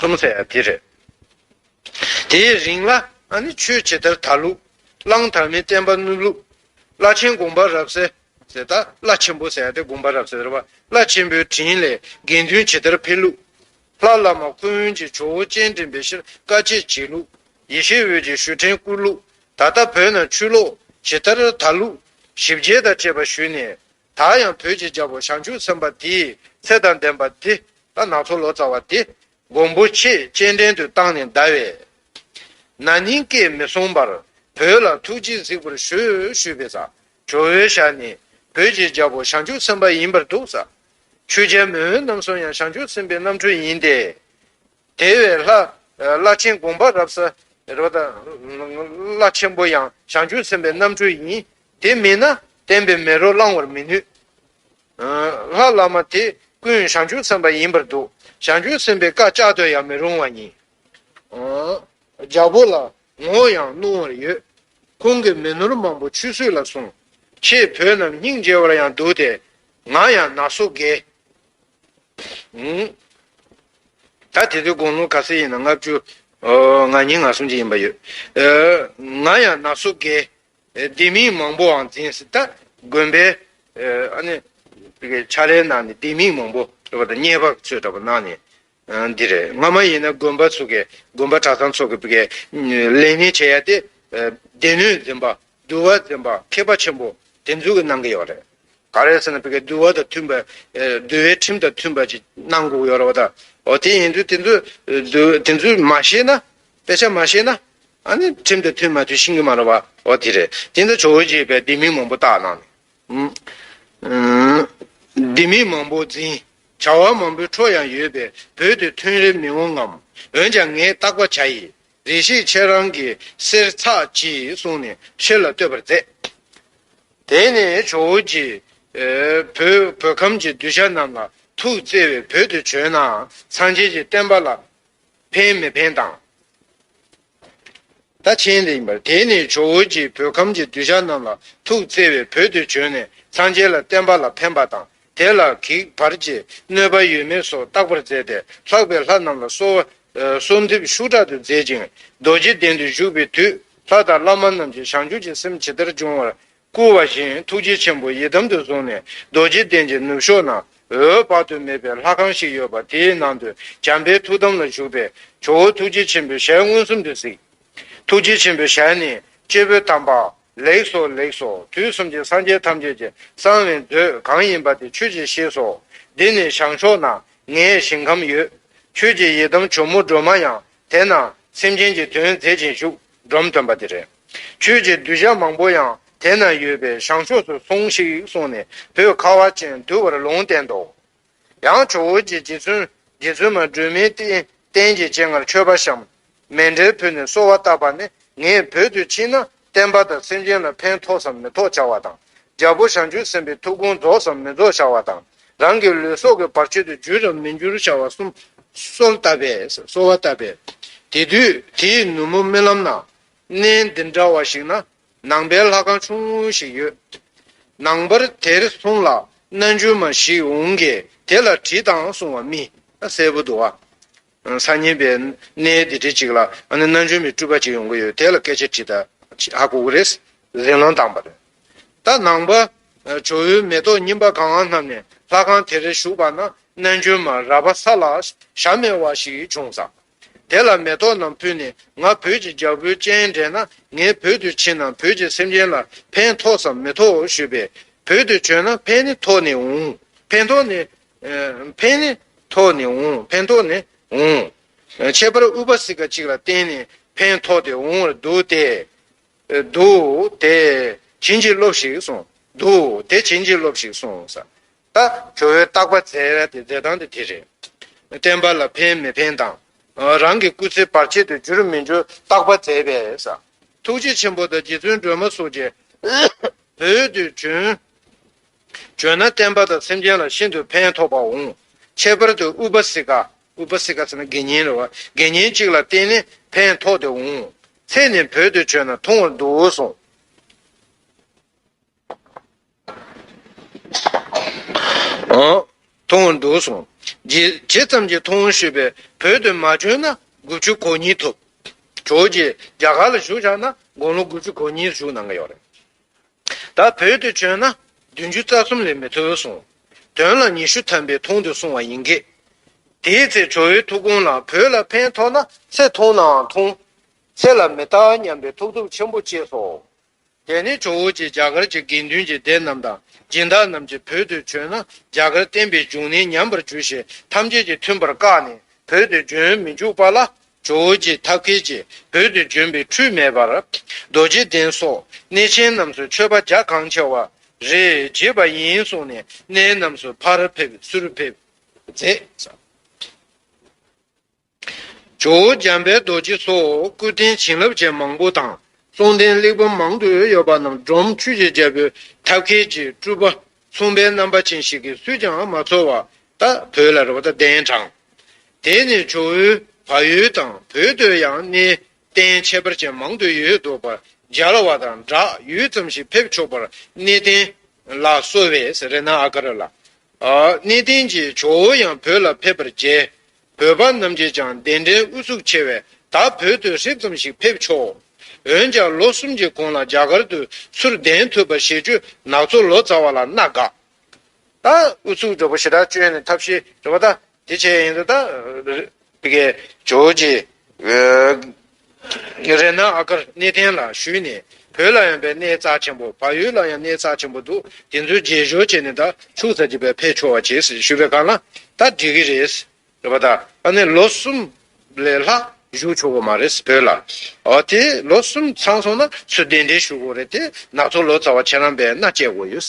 ལྷ་མོ་ཚེ་ཡང་དེ་རེད། དེའི་རིང་ལ་ཨ་ནི་ཆོས་ཇི་ལྟར་དར་ལུགས། གླང་དར་མའི་བསྟན་པ་བསྣུབས་ལུགས། བླ་ཆེན་དགོངས་པ་རབ་གསལ། ཟེར་ད་བླ་ཆེན་པོ་ཟེར་ཡང་དེ་དགོངས་པ་རབ་གསལ་རེད་པ། བླ་ཆེན་པོའི་དྲིན་ལས་དགེ་འདུན་ཇི་ལྟར་འཕེལ་ལུགས། ལྷ་བླ་མ་ཁུ་དབོན་གྱིས་ཇོ་བོ་སྤྱན་འདྲེན་པའི་ཕྱིར་བཀའ་ཆད་བྱས་ལུགས། ཡེ་ཤེས་འོད་ཀྱིས་ཞུ་ཕྲན་བསྐུར་ལུགས། ད་ལྟ་བོད་ནང་ཆུ་ལོག་ཇི་ལྟར་དར་ལུགས། ཞིབ་རྒྱས་དང་བཅས་པ་ཞུས་ནས། ད་ཡང་བོད་ཀྱི་རྒྱལ་པོ་བྱང་ཆུབ་སེམས་དཔའ་དེའི་ཚེ་དང་ལྡན་པ་དེ་ལ་ནག་ཚོགས་ལོ་ཙཱ་བ་དེ་མགོན་པོ་ཆེས་སྤྱན་འདྲེན་དུ་བཏང་ནས་གདའ་བས། ན་ནིང་སྐད་མི་གསུང་པར་བོད་ལ་ཐུགས་རྗེས་གཟིགས་པར་ཞུ་ཞུས་པས། ཇོ་བོའི་ཞལ་ནས་བོད་ཀྱི་རྒྱལ་པོ་བྱང་ཆུབ་སེམས་དཔའ་ཡིན་པར་འདུག། ཆོས་རྒྱལ་མོས་འོན་ནམ་གསུང་ཡང་བྱང་ཆུབ་སེམས་དཔའི་རྣམ་འཕྲུལ་ཡིན་ཏེ། དེ་བས་ལྷ། བླ་ཆེན་དགོངས་པ་རབ། བླ་ཆེན་པོ་ཡང་བྱང་ཆུབ་སེམས་དཔའི་རྣམ་འཕྲུལ་ཡིན། དེ་མེད་ན་བསྟན་པའི་མེ་རོ་བསླང་བར་མི་ནུས། ལྷ་བླ་མ་དེ་ཀུན་ཞང་ཆུང་སེམས་པ་ཡིན་པར་འདུག་ཞང་ཆུང་སེམས་པའི་བཀའ་བཅག་འདོད་ཡང་མི་རུང་བ་ཡིན། རྒྱལ་པོ་ལ་ངོ་ཡང་གནོང་བར་ཡོད། ཁོང་གི་མི་ནོར་མང་པོ་ཆུད་ཟོས་ལ་སོང། ཁྱེད་བོད་རྣམས་སྙིང་རྗེ་བར་ཡང་འདུག་སྟེ། ང་ཡང་ན་སོ་དགེ། ད་དེ་ཚོའི་དགོངས་ཀློང་ག་སེ་ཡིན་ན་ལྔ་བཅུ། ང་ཉིད་ང་སོང་ཅིག་ཡིན་པ་ཡོད། ང་ཡང་ན་སོ་དགེ། སྡེ་མིང་མང་པོའང་འཛིན་སྲིད། དགོན་པའི་བྱ་རའི་ནང་ནས་སྡེ་མིང་མང་པོ་ཟེར་བ་དང་གཉེར་པ་ཚོས་འདྲ་པོ་གནང་ནས་འདི་རེད་ང་མ་ཡིན་ན་དགོན་པ་ཚོ་གི་དགོན་པ་གྲྭ་ཚང་ཚོ་གི་ལས་ཉིན་བྱེད་ཡ་དེ་སྡེ་སྣོད་འཛིན་པ་འདུལ་བ་འཛིན་པ་མཁས་པ་ཆེན་པོ་དེ་ཚོ་གི་གནང་གི་ཡོད་རེད། ག་རེ་ཟེར་ན་འདུལ་བ་དང་མཐུན་པ་འདུལ་བའི་ཁྲིམས་དང་མཐུན་པ་ཅིག་གནང་དགོས་ཀྱི་ཡོད་རེད་བ་ད། འོ་དེ་ཡིན་དུས་དེ་ཚོ་དེ་ཚོས་མ་ཤེས་ན་དཔེ་ཆ་མ་ཤེས་ན་ཁྲིམས་དང་མཐུན་མ་མཐུན་ཤིང་གི་མ་རུ་བ་འོ་དེ་རེད་དེ་འདྲ་ཇོ་བོ་རྗེ་བས་སྡེ་མི་མང་པོ་བཏགས་གནང་ནས་སྡེ་མི་མང་པོ་འཛིན་བྱ་བ་མང་པོའི་འཕྲོ་ཡང་ཡོད་པས་བོད་དུ་ཐོན་རེ་མི་འོང་ངམ་འོན་ཀྱང་ངས་བརྟག་པ་བྱ་ཡི་རེད་ཤེས་ཆེ་རང་གི་སེར་ཚགས་ཀྱིས་གསུང་ནས་ཕྱི་ལ་བསྟོད་པར་མཛད། དེ་ནས་ཇོ་བོ་རྗེས་བོད་ཁམས་ཀྱི་གདུལ་བྱ་རྣམས་ལ་ཐུགས་བརྩེ་བས་བོད་དུ་བྱོན་ནའང་སངས་རྒྱས་ཀྱི་བསྟན་པ་ལ། ཕན་མི་ཕན་དང། ད་ཕྱིན་ལེགས་པར་དེས་ནི་ཇོ་བོ་རྗེས་བོད་ཁམས་ཀྱི་གདུལ་བྱ་རྣམས་ལ་ཐུགས་བརྩེ་བས་བོད་དུ་བྱོན་ནས་སངས་རྒྱས་ལ་བསྟན་པ་ལ་ཕན་པ་དང་དེ་ལ་གེགས་བར་གྱི་གནོད་པ་ཡོད་མེད་སོགས་བརྟག་པར་མཛད་དེ་ལྷག་པའི་ལྷ་རྣམས་ལ་གསོལ་འདེབས་ཤུགས་དྲག་ཏུ་མཛད་ཅིང་རྡོ་རྗེ་གདན་དུ་བཞུགས་པའི་དུས་ལྷ་དང་བླ་མ་རྣམས་ཀྱིས་བྱང་ཆུབ་ཀྱི་སེམས་ཇི་ལྟར་འབྱུང་བར་བསྐུལ་བ་བཞིན་ཐུགས་རྗེ་ཆེན་པོ་ཡི་དམ་དུ་བཟུང་ནས་རྡོ་རྗེ་གདན་གྱི་ནུབ་ཕྱོགས་ན་འོད་དཔག་ཏུ་མེད་པའི་ལྷ་ཁང་ཞིག་ཡོད་པ་དེའི་ནང་དུ་བྱམས་པའི་ཐུགས་དམ་ལ་བཞུགས་པས་ཇོ་བོ་ཐུགས་རྗེ་ཆེན་པོའི་ཞལ་མངོན་སུམ་དུ་གཟིགས། ཐུགས་རྗེ་ཆེན་པོའི་ཞལ་ནི་སྤྱི་བོས་དམ་པ། ལེགས་སོ་ལེགས་སོ་དུས་གསུམ་གྱི་སངས་རྒྱས་ཐམས་ཅད་ཀྱི་གསང་བའི་མཛོད་གང་ཡིན་པ་དེ་ཁྱོད་ཀྱིས་ཤེས་སོ། འདི་ནི་བྱང་ཕྱོགས་ན་ངའི་ཞིང་ཁམས་ཡོད། ཁྱོད་ཀྱི་ཡི་དམ་ཇོ་མོ་སྒྲོལ་མ་ཡང་དེ་ན་སེམས་ཅན་གྱི་དོན་མཛད་ཅིང་བཞུགས་སྒྲོམ་སྟོན་པ་དེ་རེད། ཁྱོད་ཀྱི་གདུལ་བྱ་མང་པོ་ཡང་དེ་ན་ཡོད་པས་བྱང་ཕྱོགས་སུ་སོང་ཞིག་གསུངས་ནས་བུ་ཁ་བ་ཅན་འདུལ་བར་ལུང་བསྟན་ཏོ། ཡང་ཇོ་བོ་རྗེ་རྗེ་བཙུན་མ་སྒྲོལ་མའི་རྟེན་གྱི་སྤྱན་སྔར་མཆོད་པ་བཤམས། མལ་འབྲེལ་ཕུལ་ནས་གསོལ་བ་བཏབ་པ་ནི་ངས་བོད་དུ་ཕྱིན་ན་བསྟན་པ་དང་སེམས་ཅན་ལ་ཕན་ཐོགས་སམ་མི་ཐོགས་བྱ་བ་དང། རྒྱལ་པོ་བྱང་ཆུབ་སེམས་དཔའི་ཐུགས་དགོངས་རྫོགས་སམ་མི་རྫོགས་བྱ་བ་དང། རང་གི་ལུས་སྲོག་གི་བར་ཆོད་དུ་འགྱུར་རམ་མི་འགྱུར་བྱ་བ་གསུམ་གསོལ་བཏབ་པས། དེ་དུས་དེའི་ནུབ་མོ་རྨི་ལམ་ན་གནས་འདི་འདྲ་བ་ཞིག་ན་ནང་པའི་ལྷ་ཁང་ཆུང་ངུ་ཞིག་ཡོད། ནང་པར་དེར་སོང་ལ་རྣལ་འབྱོར་མ་ཞིག་འོང་གིས་དེ་ལ་དྲིས་དང་གསུང་བ་རྨིས། གསལ་པོ་འདུག་ཨ། སང་ཉིན་པའི་གནས་འདི་འདྲ་ཅིག་ལ་ཨ་ནི་རྣལ་འབྱོར་མའི་སྤྲུལ་པ་ཅིག་ཡོང་གི་ཡོད་དེ་ལ་སྐད་ཆ་དྲིས་ད་ཨ་ཁུག་ཁུག་རེད། ཟིང་ལོང་བཏང་བ་རེད། ད་ནང་པ་ཇོ་བོའི་མེ་ཏོག་སྙིམ་པ་གང་བསྣམས་ནས་ལྷ་ཁང་དེར་བཞུགས་པ་ན་རྣལ་འབྱོར་མ་ར་བ་ས་ལ་ཞག་མེད་བ་ཞིག་བྱུང་ཙང། དེ་ལ་མེ་ཏོག་རྣམས་ཕུལ་ནས་ང་བོད་ཀྱི་རྒྱལ་པོའི་སྤྱན་འདྲེན་ན་ངས་བོད་དུ་ཕྱིན་ན་བོད་ཀྱི་སེམས་ཅན་ལ་ཕན་ཐོགས་སམ་མི་ཐོགས་ཞུས་པས། བོད་དུ་བྱོན་ན་ཕན་ནི་ཐོགས་ནས་འོང། ཕན་ཐོགས་ནི། ཕན་ནི། ཐོགས་ནས་འོང་ཕན་ཐོགས་ནས་འོང། ཁྱད་པར་ཨུཏྤལ་སིཀ་གཅིག་ལ་བརྟེན་ནས་ཕན་ཐོགས་ཏེ་འོང་བར་འདུག་སྟེ། འདུག་སྟེ། བྱིན་གྱིས་རློབས་ཤིག་གསུངས། འདུག་སྟེ་བྱིན་གྱིས་རློབས་ཤིག་གསུངས། ད་ཁྱོ་བོའི་བརྟག་པ་འཚལ་བའི་མཛད་སྟངས་དེ་དེ་རེད། བསྟན་པ་ལ་ཕན་མི་ཕན་དང། རང་གི་སྐུ་ཚེ་བར་ཆད་དུ་འགྱུར་མི་འགྱུར་བརྟག་པ་མཛད་པས། ཐུགས་རྗེ་ཆེན་པོ་དང་རྗེ་བཙུན་སྒྲོལ་མ་སོགས་ཀྱི་བོད་དུ་བྱོན། བྱོན་ན་བསྟན་པ་དང་སེམས་ཅན་ལ་ཤིན་ཏུ་ཕན་ཐོགས་པ་འོང། ཁྱད་པར་དུ་ཨུཏྤལ་སིཀྵ་ཟེར་ན་དགེ་བསྙེན་རེད་བ། དགེ་བསྙེན་གཅིག་ལ་བསྟེན་ནས་ཕན་ཐོགས་དེ་འོང། ཚེ་ནི་བོད་དུ་བྱོན་ན་ཐུང་བར་འདུག་གསུངས། མཐོང་བར་འདུག་གསུངས། ཇི་ཙམ་གྱིས་མཐོང་ཞུས་པས་བོད་དུ་མ་བྱོན་ན་དགུ་བཅུ་གོ་གཉིས་ཐུབ། གྲོགས་ཀྱིས་རྒྱ་གར་ལ་བཞུགས་བཞག་ན་དགུང་ལོ་དགུ་བཅུ་གོ་གཉིས་བཞུགས་གནང་གི་ཡོད་རེད། ད་བོད་དུ་བྱོན་ན་བདུན་ཅུ་རྩ་གསུམ་ལས་མི་ཐུབ་གསུངས། དོན་ལ་ཉི་ཤུ་ཐམ་པའི་ཐུང་དུ་སོང་བ་ཡིན་གི། དེའི་ཚེ་ཇོ་བོའི་ཐུགས་དགོངས་ལ་བོད་ལ་ཕན་ཐོགས་ན་ཚེ་ཐུང་ནའང་ཐུང། ཚེ་ལ་མི་རྟག་སྙམ་པའི་ཐུགས་སྟོབས་ཆེན་པོ་སྐྱེས་སོ། དེ་ནས་ཇོ་བོ་རྗེས་རྒྱ་གར་གྱི་དགེ་འདུན་གྱི་སྡེ་རྣམས་དང་སྦྱིན་བདག་རྣམས་ཀྱིས་བོད་དུ་བྱོན་ན་རྒྱ་གར་བསྟན་པའི་འབྱུང་གནས་ཉམས་པར་འགྱུར་ཞེས་ཐམས་ཅད་ཀྱིས་མཐུན་པར་བཀག་ནས་བོད་དུ་བྱོན་མི་འཇུག་པ་ལ། ཇོ་བོ་རྗེས་ཐབས་མཁས་ཀྱིས་བོད་དུ་བྱོན་པའི་འཕྲུལ་མེད་པར། རྡོ་རྗེ་གདན་སོགས་གནས་ཆེན་རྣམས་སུ་མཆོད་པ་རྒྱ་གང་ཆེ་བ་རེ་བྱེད་པ་ཡིན་གསུངས་ནས་གནས་རྣམས་སུ་ཕར་ཕེབས་སུར་ཕེབས་མཛད། ཇོ་བོ་འཇམ་དཔལ་རྡོ་རྗེ་སོགས་སྐུ་རྟེན་བྱིན་རླབས་ཅན་མང་པོ་དང་གསུང་རྟེན་གླེགས་བམ་མང་དུ་ཡོད་པ་རྣམས་སྒྲོམ་ཆུ་བྱའི་རྒྱལ་པོའི་ཐབས་མཁས་ཀྱི་སྤྲུལ་པ་མཚུངས་པའི་རྣམ་པ་ཅན་ཞིག་གིས་སུས་ཀྱང་མ་ཚོར་བ་ལྟར་བོད་ལ་རེ་བ་གདན་དྲངས། དེ་ནས་ཇོ་བོའི་བ་ཡུལ་དང་བོད་དུ་ཡང་གནས་རྟེན་ཁྱད་པར་ཅན་མང་དུ་ཡོད་འདུག་པར་སྦྱར་བ་དང་སྦྲགས་ཡུད་ཙམ་ཞིག་ཕེབས་ཆོག་པར་གནས་རྟེན་ལ་གསོལ་བས་རེ་ན་ཨ་ཀ་ར་ལ། གནས་རྟེན་གྱི་ཇོ་བོ་ཡང་བོད་ལ་ཕེབས་པར་མཇལ། བོད་པ་རྣམས་ཀྱིས་ཀྱང་གདན་འདྲེན་ཨུ་ཚུགས་ཆེ་བས་ད་བོད་དུ་ཧྲིབ་ཙམ་ཞིག་ཕེབས་ཆོག་འོན་ཀྱང་ལོ་གསུམ་གྱི་གོང་ལ་རྒྱ་གར་དུ་ཚུར་གདན་ཐུབ་པ་ཞེས་ཆུ་ནག་ཚོ་ལོ་ཙཱ་བ་ལ་མནའ་བསྒགས། ད་ཨུ་ཚུགས་འདྲ་པོ་ཞེ་དྲག་བཅོས་ནས་ཐབས་ཤེས་འདྲ་པོ་ད་དེ་བྱས་ཡིན་ཟེར། ད་རེད། ཇོ་ཇེ། རེ་ན་ཨ་ཀར་གནས་བརྟན་ལ་ཞུས་ནས་བོད་ལ་ཡང་པའི་གནས་རྩ་ཆེན་པོ་བག་ཡོད་ལ་ཡང་གནས་རྩ་ཆེན་པོ་འདུག་དེ་ཚོའི་རྗེས་ཞོར་བྱས་ནས་ད་ཕྱུག་ཟ་རྒྱུ་བས་ཕས་ཆོག་བ་བྱས་ཟེར་ཞུས་པའི་གང་ལ་ད་འགྲིག་གི་རེད། རེད་པ་ད་ཨ་ནི་ལོ་གསུམ་ལས་ལྷག་བཞུགས་ཆོག་གི་མ་རེད་བོད་ལ། ཨོ་དེ་ལོ་གསུམ་ཚང་སོང་ན་ཚུལ་ལྡན་འགྲེལ་ཞུ་དགོས་རེད་དེ་ནག་ཚོ་ལོ་ཙཱ་བ་ཁྱེད་རང་པས་མནའ་བསྐྱལ་དགོས་ཡོད།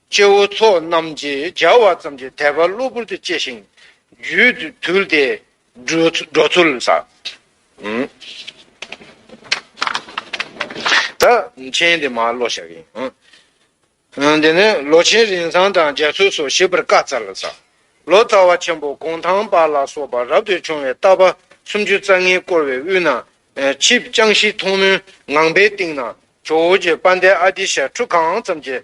སྐྱེ་བོ་ཚོགས་རྣམས་ཀྱིས་སྦྱར་བ་ཙམ་གྱིས་དད་པ་གློ་བུར་དུ་སྐྱེས་ཤིང། རྒྱུད་དུལ་ཏེ། འགྲོ་ཚུལ་ཟག། མཁྱེན་ཏེ་མ་བློ་བཞག་ཡིན། འདི་ནི་ལོ་ཆེན་རིན་བཟང་དང་རྒྱ་མཚོས་སོ་ཞེས་པར་བཀའ་སྩལ་ལ། ལོ་ཙཱ་བ་ཆེན་པོ་གུང་ཐང་པ་ལ་སོགས་པ་རབ་ཏུ་བྱུང་བའི་རྟ་པ་སུམ་ཅུ་རྩ་ལྔས་བསྐོར་བའི་དབུས་ན་ཕྱིས་བསྐྱངས་ཤིང་མཐོང་མུན་ངང་པའི་སྟེང་ན་ཇོ་བོ་རྗེ་དཔལ་ལྡན་ཨ་ཏི་ཤ་ཁྲུ་གང་ཙམ་གྱི།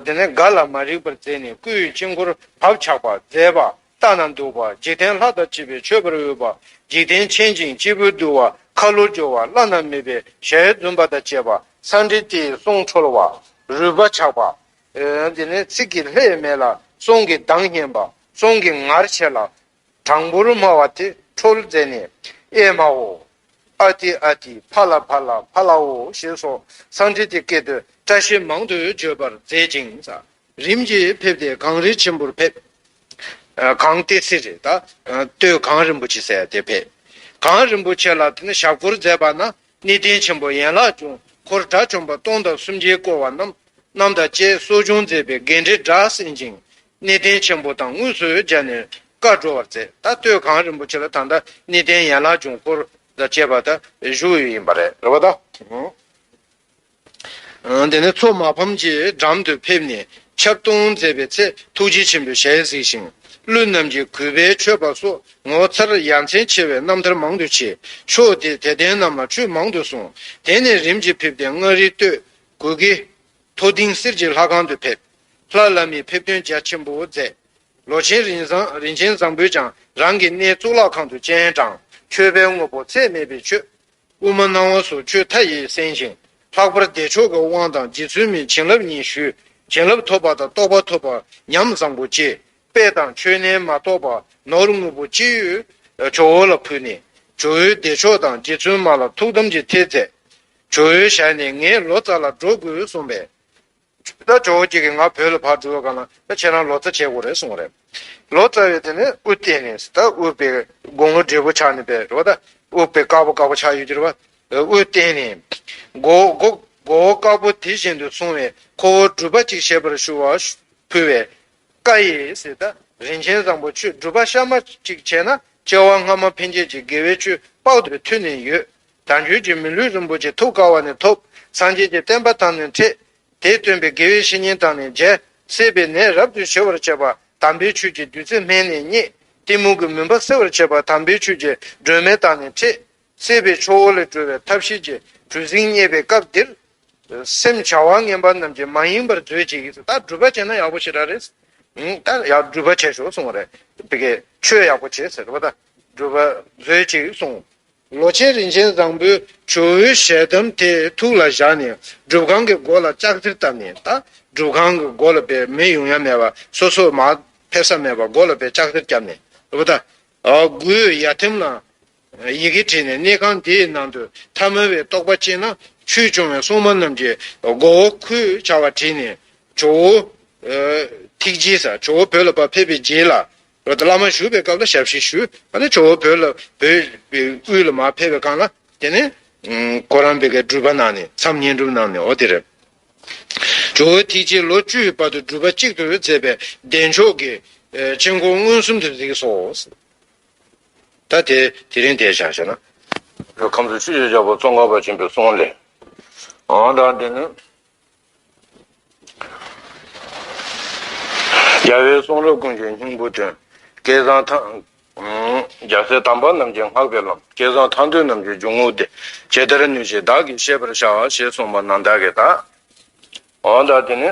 དེ་ནས་འགའ་ལ་མ་རིག་པར་མཛད་ནས་སྐུའི་དཀྱིལ་འཁོར་བབ་ཆགས་པ་མཛད་པ་ལྟ་ན་འདུག་པ་འཇིག་རྟེན་ལྷ་དང་བཅས་པའི་མཆོད་པར་འོས་པ་འཇིག་རྟེན་མཁྱེན་ཅིང་སྐྱེས་བུ་འདུལ་བ་ཁ་ལོ་སྦྱོར་བ་བླ་ན་མེད་པའི་ཞལ་འཛུམ་པ་དང་བཅས་པ་སངས་དྲི་ཏིའི་གསུང་འཕྲོར་བ་རུས་པ་ཆགས་པ། དེ་ནས་ཚིག་གི་ལྷད་མེད་ལ་གསུང་གི་གདངས་སྙན་པ་གསུང་གི་ངར་ཆེ་ལ་དྲང་པོར་སྨྲ་བ་དེ་ཁྲོལ་མཛད་ནས། ཨེ་མའོ། ཨ་ཏི་ཨ་ཏི་བྷ་ལ་བྷ་ལ་བྷ་ལའོ་ཞེས་སོགས་གསང་འཕྲིན་དེ་སྐད་དུ་བཀྲ་ཤིས་མང་དུ་བརྗོད་པར་མཛད་ཅིང། རིམ་གྱིས་ཕེབས་ཏེ་གངས་རི་ཆེན་པོར་ཕེབས། གངས་ཏི་སེ་རི་དང་སྟོད་གངས་རིན་པོ་ཆེ་སའི་སྟེང་ཕེབས། གངས་རིན་པོ་ཆེ་ལ་ཞབས་སྐོར་མཛད་པ་ན་གནས་བརྟན་ཆེན་པོ་ཡན་ལག་ཅུང་འཁོར་དགྲ་བཅོམ་པ་སྟོང་དང་སུམ་བརྒྱའི་བསྐོར་བ་རྣམས་རྣམས་དང་བཅས་གསོ་སྦྱོང་མཛད་པའི་དགེ་འབྲས་སྒྲ་གསན་ཅིང་གནས་བརྟན་ཆེན་པོ་དང་དངོས་སུ་སྦྱར་ནས་བཀའ་བགྲོ་བར་མཛད་ད་སྟོད་གངས་རིན་པོ་ཆེ་ལ་ད་ལྟ་གནས་བརྟན་ཡན་ལག་འབྱུང་འཁོར་དང་བཅས་པ་དག་བཞུགས་ཡོད་ཡིན་པ་རེད། དེ་ནས་ཚོགས་མ་ཕམ་གྱི་འགྲམ་དུ་ཕེབས་ནས་ཆབ་བཏུང་མཛད་པའི་ཚེ་ཐུགས་རྗེ་ཆེན་པོའི་ཞལ་གཟིགས་ཤིང་ཀླུ་རྣམས་ཀྱིས་གུས་པས་མཆོད་པ་སོགས་ངོ་མཚར་ཡ་མཚན་ཆེ་བའི་རྣམ་ཐར་མང་དུ་བྱས། ཕྱོགས་དེའི་དད་ལྡན་རྣམས་ལ་ཁྲུས་མང་དུ་གསུངས། དེ་ནས་རིམ་གྱིས་ཕེབས་ཏེ་མངའ་རིས་སྟོད་གོལ་གྱི། མཐོ་ལྡིང་གསེར་གྱི་ལྷ་ཁང་དུ་ཕེབས། ལྷ་བླ་མའི་ཕེབས་དོན་རྒྱ་ཆེན་པོ་མཛད། ལོ་ཆེན་རིན་ཆེན་བཟང་པོས་ཀྱང་རང་གི་གནས་གཙུག་ལག་ཁང་དུ་སྤྱན་དྲངས་མཆོད་པའི་དངོས་པོ་ཚད་མེད་པས་མཆོད། དབུ་མ་སྣང་བ་སོགས་ཆོས་མཐའ་ཡས་གསན་ཞིང། ལྷག་པར་བདེ་མཆོག་གི་དབང་དང་རྗེ་བཙུན་མའི་བྱིན་རླབས་གཉིས་ཞུས། བྱིན་རླབས་ཐོབ་པ་དང་རྟོགས་པ་ཐོབ་པར་ཉམས་བཟང་པོ་སྐྱེས། དཔེ་དང་ཆོས་རྣལ་མ་རྟོགས་པ་ནོར་དངོས་པོ་ཅི་ཡོད། ཇོ་བོ་ལ་ཕུལ་ནས། ཇོ་བོས་བདེ་མཆོག་དང་རྗེ་བཙུན་མ་ལ་ཐུགས་དམ་གྱི་ཐེལ་མཛད། ཇོ་བོའི་ཞལ་ནས་ངས་ལོ་ཙཱ་ལ་འགྲོ་དགོས་གསུངས་པས། ད་ཇོ་བོ་སྐྱིད་ཀྱིས་ང་བོད་ལ་ཕར་འགྲོ་དགོས་ན་ཁྱེད་རང་ལོ་ཙཱ་བྱེད་དགོས་རེད་གསུངས་རེད། ལོ་ཙཱ་བས་དེ་ནས་དབུ་བཏེགས་ནས་ད་དབུ་བའི་དགུང་ལོ་བགྲེས་པོ་ཆགས་ནས་པའི་རོ་ད་དབུ་བའི་དཀར་པོ་དཀར་པོ་ཆགས་ཡོད་ཀྱིར་བ། དབུ་བཏེགས་ནས། མགོ་བོ་དཀར་པོ་དེ་བཞིན་དུ་སོང་བས་ཁོ་བོ་སྒྲུབ་པ་ཅིག་བྱེད་པར་ཞུ་བ་ཕུལ་བས། བཀའ་ཡིས་ད་རིན་ཆེན་བཟང་པོ་ཁྱོད་སྒྲུབ་པ་གཤའ་མ་ཅིག་བྱས་ན་སྐྱེ་བ་སྔ་མ་འཕེན་བྱེད་ཀྱི་དགེ་བའི་ཆོས་དཔག་ཏུ་མཐུན་ནས་ཡོད་དང་རྒྱུད་ཀྱི་མི་ལུས་རིན་པོ་ཆེ་ཐུགས་ཀ་བ་ནས་ཐོབ། སངས་རྒྱས་ཀྱི་བསྟན་པ་དམ་ནས་འཕྲད། དེས་སྟོན་པའི་དགེ་བའི་བཤེས་གཉེན་དང་ནི་མཇལ། སྲེད་པའི་ནད་རབ་ཏུ་ཞི་བར་བྱེད་པ། དམ་པའི་ཆོས་ཀྱི་བདུད་རྩི་སྨན་ནས་རྙེད། གཏི་མུག་གི་མུན་པ་སེལ་བར་བྱེད་པ་དམ་པའི་ཆོས་ཀྱི་སྒྲོན་མེ་དང་ནི་འཕྲད། སྲེད་པའི་ཕྱོགས་འོག་ལས་གྲོལ་བའི་ཐབས་ཤེས་ཀྱི་གྲུ་གཟིངས་རྙེད་པའི་སྐབས་འདིར། སེམས་བྱ་བ་ངན་པ་རྣམས་ཀྱི་མ་ཡིན་པར་མཛོད་ཅིག་ད་སྒྲུབ་པ་བྱས་ན་ཡག་པོ་ཞེ་དྲག་རེད། ད་སྒྲུབ་པ་བྱེད་ཞོར་གསུངས་བ་རེད། དེ་གས་ཆོས་ཡག་པོ་བྱེད་ཟེར་བ་ད་སྒྲུབ་པ་མཛོད་ཅིག་གསུངས། ལོ་ཆེན་རིན་ཆེན་བཟང་པོའི་ཇོ་བོའི་ཞལ་གདམས་དེ་ཐུགས་ལ་བཞག་ནས་སྒྲུབ་ཁང་གི་སྒོ་ལ་ལྕགས་གཟེར་བཏབ་ནས་ད་སྒྲུབ་ཁང་གི་སྒོ་ལ་པའི་མི་ཡོང་ཡ་མེད་པ་སོ་སོ་མ་ཕེབས་ས་མེད་པ་སྒོ་ལ་པའི་ལྕགས་གཟེར་བརྒྱབ་ནས་ཨུ་ད་གུའི་ཡ་ཐེམ་ལ་ཡི་གེ་བྲིས་ནས་གནས་ཁང་འདིའི་ནང་དུ་ཐ་མལ་བའི་རྟོག་པ་སྐྱེས་ན་ཆོས་སྐྱོང་བའི་སྲུང་མ་རྣམས་ཀྱི་མགོ་བོ་ཁོས་བྱ་བ་བྲིས་ནས་ཇོ་བོ་ཐིག་རྗེས་ས་ཇོ་བོ་བོད་ལ་པ་ཕེབས་པའི་རྗེས་ལ་བོད་དུ་བླ་མ་བཞུགས་པའི་སྐབས་ལ་ཞབས་ཕྱི་ཞུ། ཨ་ནི་ཇོ་བོ་བོད་ལ་བོད་དབུས་ལ་མ་ཕེབས་པའི་སྐང་ལ། དེ་ནས། གོ་རམས་པའི་སྒྲུབ་པ་གནང་ནས་མཚམས་བསྙེན་སྒྲུབ་གནང་ནས་འོ་དེ་རེད། ཇོ་བོའི་ཐིག་རྗེས་ལོ་བཅུའི་བར་དུ་སྒྲུབ་པ་གཅིག་ཏུ་མཛད་པས་བདེ་མཆོག་གི། སྤྱན་འཁོར་མངོན་སུམ་དུ་གཟིགས་སོ། ད་དེ་དེ་རིང་འདས་བྱ་ཞེ་ན། བོད་ཁམས་སུ་ཤིས་བརྗོད་བྱ་བ་ཙོང་ཁ་པ་ཆེན་པོའི་གསུང་ལས། ཨང་དང་དེ་ནས། རྒྱལ་བའི་གསུང་རབ་ཀུན་གྱི་སྙིང་པོ་དོན། སྐལ་བཟང་ཐང། རྒྱལ་སྲས་དམ་པ་རྣམས་ཀྱི་བསྔགས་པའི་ལམ། སྐལ་བཟང་ཐང་སྟོན་རྣམས་ཀྱི་འཇུག་ངོགས་འདི། ཇི་ལྟར་ནུས་བྱས་བདག་གིས་ཤེས་པར་བྱའོ་ཞེས་གསུངས་པ་ནང་དག་གི་དག། འོ་ད་དེ་ནི།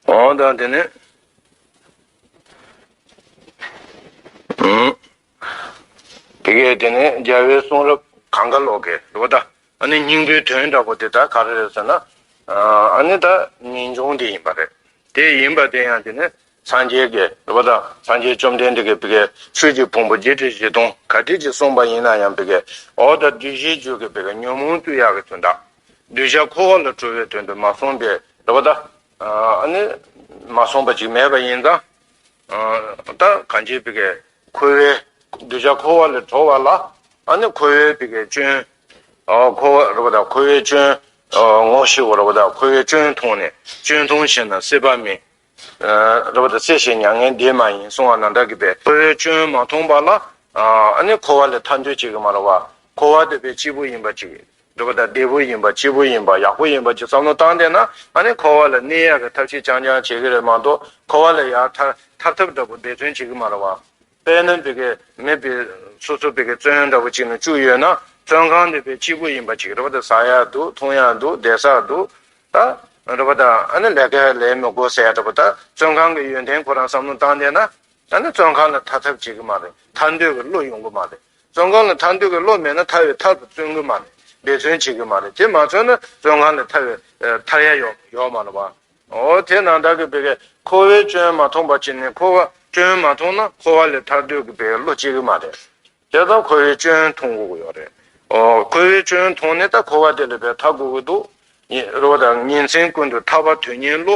འོ་ད་དེ་ནི། དེ་གས་དེ་ནས་རྒྱལ་བའི་གསུང་རབ་གང་ག་ལོག་གི་འོ་ད་ཨ་ནི་སྙིང་པོའི་དོན་འདྲ་པོ་དེ་དག་ག་རེ་རེད་ཟེར་ན། ཨ་ནི་ད་ངེས་འབྱུང་དེ་ཡིན་པ་རེད། དེ་ཡིན་པ་དེ་ཡང་དེ་ནས་སངས་རྒྱས་ཀྱི་འོ་ད་སངས་རྒྱས་བཅོམ་ལྡན་འདས་ཀྱི་བི་གའི་ཆོས་ཀྱི་ཕུང་པོ་བརྒྱད་ཁྲི་བཞི་སྟོང་ག་ཁྲི་ཅིག་གསུངས་པ་ཡིན་ན་ཡང་བི་གའི་འོ་ད་བདུད་བཞིའི་རྒྱུད་ཀྱི་བི་ག་ཉོན་མོངས་རྩུབ་ཡག་གི་དོན་དག་གདུལ་བྱ་འཁོར་བ་ལ་གྲོལ་བའི་དོན་དུ་མ་གསུངས་པའི་འོ་ད་ཨ་ནི་མ་གསུངས་པ་ཅིག་མེད་པ་ཡིན་ཙང། ད་གང་ཅིའི་བི་གའི་ཁོལ་བས་གདུལ་བྱ་འཁོར་བ་ལས་གྲོལ་བ་ལ་ཨ་ནི་ཁོལ་བས་བི་གའི་སྐྱོན། འཁོར་བ་རོལ་པ་དང་ཁོལ་བའི་སྐྱོན། ངོ་ཤེས་བ་རོལ་པ་དང་ཁོལ་བའི་སྐྱོན་མཐོང་ནས་སྐྱོན་མཐོང་བྱེད་ན་སྲེད་པ་མེད། རོལ་པ་དང་སྲེད་ཞེས་མྱ་ངན་འདས་མ་ཡིན་གསུང་བ་ན་བདག་གིས་པས་ཁོལ་བའི་སྐྱོན་མ་མཐོང་པ་ལ་ཨ་ནི་འཁོར་བ་ལས་ཐར་འདོད་ཅིག་གི་མ་རོལ་བ་འཁོར་བར་འདོད་པའི་སྐྱེས་བུ་ཡིན་པ་ཅིག་འདོད་པ་དང་བདེ་པོ་ཡིན་པ་སྐྱིད་པོ་ཡིན་པ་ཡག་པོ་ཡིན་པ་གྱི་བསམ་བློ་བཏང་བསྡད་ན་ང་ནི་འཁོར་བ་ལ་གནས་ཡག་གི་ཐབས་ཤེས་རྐྱང་རྐྱང་བྱེད་ཀྱི་རེད་མ་གཏོགས་འཁོར་བ་ལ་ཡར་ཐར་ཐར་ཐབས་འདྲ་པོ་འདེད་བརྩོན་བྱེད་ཀྱི་མ་རེད་བ། དཔལ་ན་འབེ་ཀའི་མི་བེ་སོ་སོ་བེ་ཀའི་བཙོན་འདྲ་པོ་གཅིག་ན་བཅུག་ཡོད་ན་བཙོན་ཁང་འདི་བེ་སྐྱིད་པོ་ཡིན་པ་གཅིག་རེད་བ་ད་ཟ་ཡག་འདུག་འཐུང་ཡག་འདུག་བསྡད་ས་འདུག་ད་རེད་བ་ད་ཨ་ནི་ལས་ཀ་ལས་མི་དགོ་ཟེར་ཡག་འདྲ་པོ་ད་བཙོན་ཁང་གི་ཡོན་ཏན་ཁོ་རང་བསམ་བློ་བཏང་བསྡད་ན་ཨ་ནི་བཙོན་ཁང་ལ་ཐར་ཐབས་བྱེད་ཀྱི་མ་རེད་ཐར་འདོད་ཀྱི་བློ་ཡོང་གི་མ་རེད་བཙོན་ཁང་ལ་ཐར་འདོད་ཀྱི་བློ་མེད་ན་ཐར་བའི་ཐག་ཏུ་བཙོན་གྱི་མ་རེད་འབད་བརྩོན་བྱེད་ཀྱི་མ་རེད་དེ་མ་བརྩོན་ན་བཙོན་ཁང་ལས་ཐར་བའི་ཐར་ཡ་ཡོད་མ་རེད་བའོ། དེས་ན་བདག་གིས་བོད་པའི་འཁོར་བའི་སྐྱོན་མ་མཐོང་པ་གཅིག་ནི་འཁོར་བ་སྐྱོན་མ་མཐོང་ན་འཁོར་བ་ལས་ཐར་འདོད་ཀྱི་བའི་བློ་སྐྱེ་གི་མ་རེད། དེ་ལྟར་འཁོར་བའི་སྐྱོན་མཐོང་དགོས་ཀྱི་ཡོད་རེད། འཁོར་བའི་སྐྱོན་མཐོང་ནས་ད་འཁོར་བ་དེ་ལས་བའི་ཐར་དགོས་ཀྱི་འདུག་རེ་བ་དང་ཉིན་མཚན་ཀུན་ཏུ་ཐར་བ་དོན་གཉེར་བློ་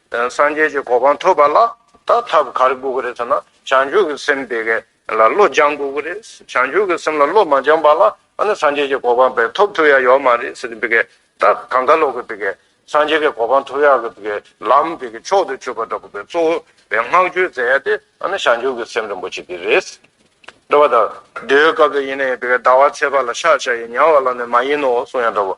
སངས་རྒྱས་ཀྱི་གོ་འཕང་ཐོབ་པ་ལ་ད་ཐབས་ག་རེ་དགོས་ཀྱི་རེད་ཟེར་ན་བྱང་ཆུབ་ཀྱི་སེམས་དེ་ག་ལ་བློ་སྦྱང་དགོས་ཀྱི་རེད། བྱང་ཆུབ་ཀྱི་སེམས་ལ་བློ་མ་སྦྱངས་པ་ལ་ཨ་ནི་སངས་རྒྱས་ཀྱི་གོ་འཕང་བས་ཐོབ་ཐུབ་ཡ་ཡོད་མ་རེད་ཟེར་ཏེ་ད་གང་ག་ལོག་གི་སངས་རྒྱས་ཀྱི་གོ་འཕང་ཐོབ་ཡ་གི་ལམ་དེ་གི་མཆོག་ཏུ་གྱུར་པ་འདྲ་པོ་གཙོ་བོ་བའི་བསྔགས་བརྗོད་མཛད་ཡ་དེ་ཨ་ནི་བྱང་ཆུབ་ཀྱི་སེམས་རིན་པོ་ཆེ་དེ་རེད། འདྲ་བ་དང། དེའི་སྐབས་དེ་ཡིན་ནའི་ཟླ་བ་ཚེས་པ་ལ་ཤ་བྱ་ཡི་མྱང་བ་ལ་ནི་མ་ཡིན་ནོ་གསུང་ཡ་འདྲ་བོ་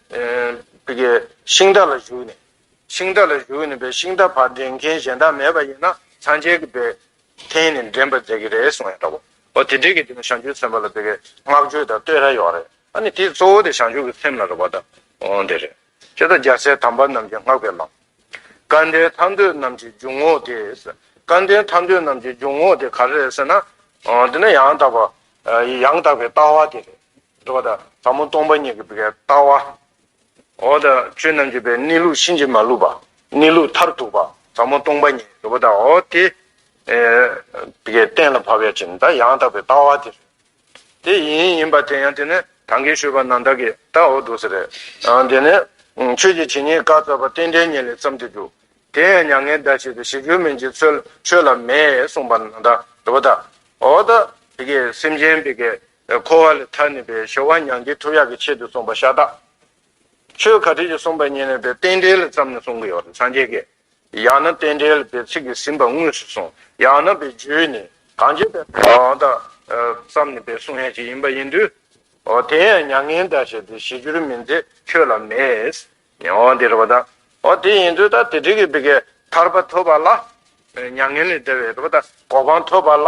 པའི་ཤིང་རྟ་ལ་བཞུགས་ནས། ཤིང་རྟ་ལ་བཞུགས་ནས་པའི་ཤིང་རྟ་བར་འདྲེན་མཁན་གཞན་དག་མེད་པ་ཡིན་ན་ཚངས་རྒྱས་ཀྱི་པའི་འཐེན་ནས་འདྲེན་པར་མཛད་ཀྱི་རེད་གསུངས་ཡོད་འདྲ་བོ། ཨོ་དེ་འདྲའི་གི་དེ་ནི་ཞང་ཆུའི་ཚེམས་པ་ལ་པའི་བསྔགས་བརྗོད་དང་བསྟོད་ར་ཡོད་རེད། ཨ་ནི་དེ་གཙོ་བོ་དེ་ཞང་ཆུ་གི་ཚེམས་ལ་རེད་བ་དང། ཨོ་འདི་རེད། ཅེས་དང་རྒྱལ་སྲས་དམ་པ་རྣམས་ཀྱི་བསྔགས་པའི་ལམ། སྐལ་ལྡན་ཐར་འདོད་རྣམས་ཀྱི་འཇུག་ངོགས་དེ། སྐལ་ལྡན་ཐར་འདོད་རྣམས་ཀྱི་འཇུག་ངོགས་དེ་ག་རེ་རེད་ཟེར་ན། འདི་ནི་ཡང་དག་པ། ཡང་དག་པའི་ལྟ་བ་དེ་རེད། འགྲོ་བ་དང་ཟབ་མོ་སྟོང་པ་ཉིད་ཀྱི་བར་ལྟ་བ། འོག་ཏུ་ཆོས་རྣམས་འབྱེད་པའི་གནས་ལུགས་ཕྱིན་ཅི་མ་ལུས་པ། གནས་ལུགས་མཐར་ཐུག་པ་ཟབ་མོ་སྟོང་པ་ཉིད་འགྲོ་བ་དང་འོག་དེ། བའི་གཏན་ལ་ཕབ་པའི་ཕྱིར་མདའ་ཡང་དག་པའི་ལྟ་བ་དེ་རེད། དེ་ཡིན་ཡིན་པ་དེ་ཡང་དེ་ནི་དང་གིས་ཤོད་པ་ན་བདག་གིས་ད་འོ་འདུག་ཟེར། དེ་ནི། ཆོས་ཀྱི་བྱེ་སྙེད་བཀའ་སྩལ་པ་རྟེན་འབྲེལ་ཉིད་ལས་བརྩམས་ཏེ་འདུག། དེ་ཡང་མྱ་ངན་འདའ་བྱེད་དུ་ཞིག་རྒྱུ་མིན་གྱི་ཚུལ་ཆོས་ལ་མེད་གསུངས་པ་ན་བདག་འགྲོ་བ་དང་འོག་ཏུ། སེམས་ཅན། འཁོར་བ་ལས་ཐར་ནུས་པའི་གཞོལ་བ་མྱང་འདས་ཐུགས་ཡག་གི་ཆེད་དུ་གསུངས་པ་ཤ་སྟག། ཆོས་ག་དུས་ཀྱི་གསུངས་པ་ཉན་ནུས་པའི་རྟེན་འབྲེལ་ཙམ་ནས་གསུང་གི་ཡོད་རེད་སངས་རྒྱས་ཀྱིས། ཡང་ན་རྟེན་འབྲེལ་པའི་ཚིག་གིས་ཟིན་པ་དངོས་སུ་གསུངས་ཡང་ན་པའི་རྒྱུད་ནས་གང་བྱས་པའི་དང་དང། ཙམ་ནུས་པའི་གསུང་ཡན་ཅིག་ཡིན་པ་ཡིན་དུས། དེ་ཡང་མྱ་ངན་འདའ་བྱེད་དེ་ཞི་གྱུར་མིན་ཚེ་ཁྱོད་ལ་མེད། འདི་རེད་པ་དང། དེ་ཡིན་དུས་ད་དེ་དྲིས་ཀྱི་བི་གའི་ཐར་པ་ཐོབ་པ་ལ། མྱ་ངན་ལས་འདའ་བའི་རེད་པ་དང་གོ་འཕང་ཐོབ་པ་ལ།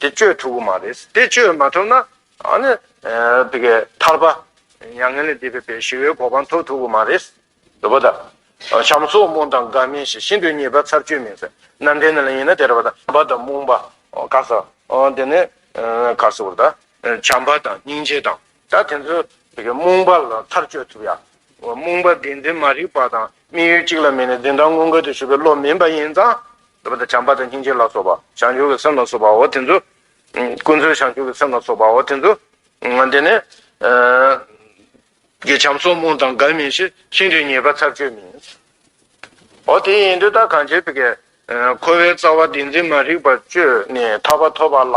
དེ་བཅོས་ཐུབ་ཀྱི་མ་རེད། དེ་བཅོས་མ་ཐུབ་ན། དེ་གའི་ཐར་པ། མྱ་ངན་ལས་འདས་པའི་བའི་ཞི་བའི་གོ་འཕང་ཐོབ་ཐུབ་ཀྱི་མ་རེད། དེ་པོ་ད། བྱམས་སོགས་རྨོངས་དང་དགའ་མིན་ཞིག་ཤིན་ཏུ་ཉེས་པ་ཚར་གཅོད་མིན་ཟེར། ནམ་ཕན་ནི་ལ་ཡིན་ན་དེར་བ་དང་བ་དང་རྨོངས་པ། དགའ་ས། དེ་ནས། དགའ་ས་བོར་ད། བྱམས་པ་དང་སྙིང་རྗེ་དང། ད་དེ་ཚོ་རྨོངས་པ་ལ་ཐག་གཅོད་ཐུབ་ཡ། རྨོངས་པ་འདི་འཛིན་མ་རིག་པ་དང་དམིགས་ཡུལ་གཅིག་ལ་མིན་ནས་འཛིན་སྟངས་མངོན་དགའ་དུ་ཞུགས་པའི་བློ་མིན་པ་ཡིན་ཙང། བྱམས་པ་དང་སྙིང་རྗེ་ལ་སོགས་པ་བྱང་ཆུབ་ཀྱི་སེམས་ལ་སོགས་པའོ་དེ་ཚོ། ཀུན་སྩོལ་བྱང་ཆུབ་ཀྱི་སེམས་ལ་སོགས་པའོ་དེ་ཚོ། དེ་ནི། བྱམས་སོགས་རྨོངས་དང་དགའ་མིན་ཞེས་ཤིང་རིས་ངེས་པ་ཚར་གཅོད་མིན། འོ་དེ་ཡིན་དུས་ད་གང་བྱེད། འཁོར་བའི་རྩ་བ་འདི་འཛིན་མ་རིག་པ་གཅོད་ནས་ཐར་པ་ཐོབ་པ་ལ།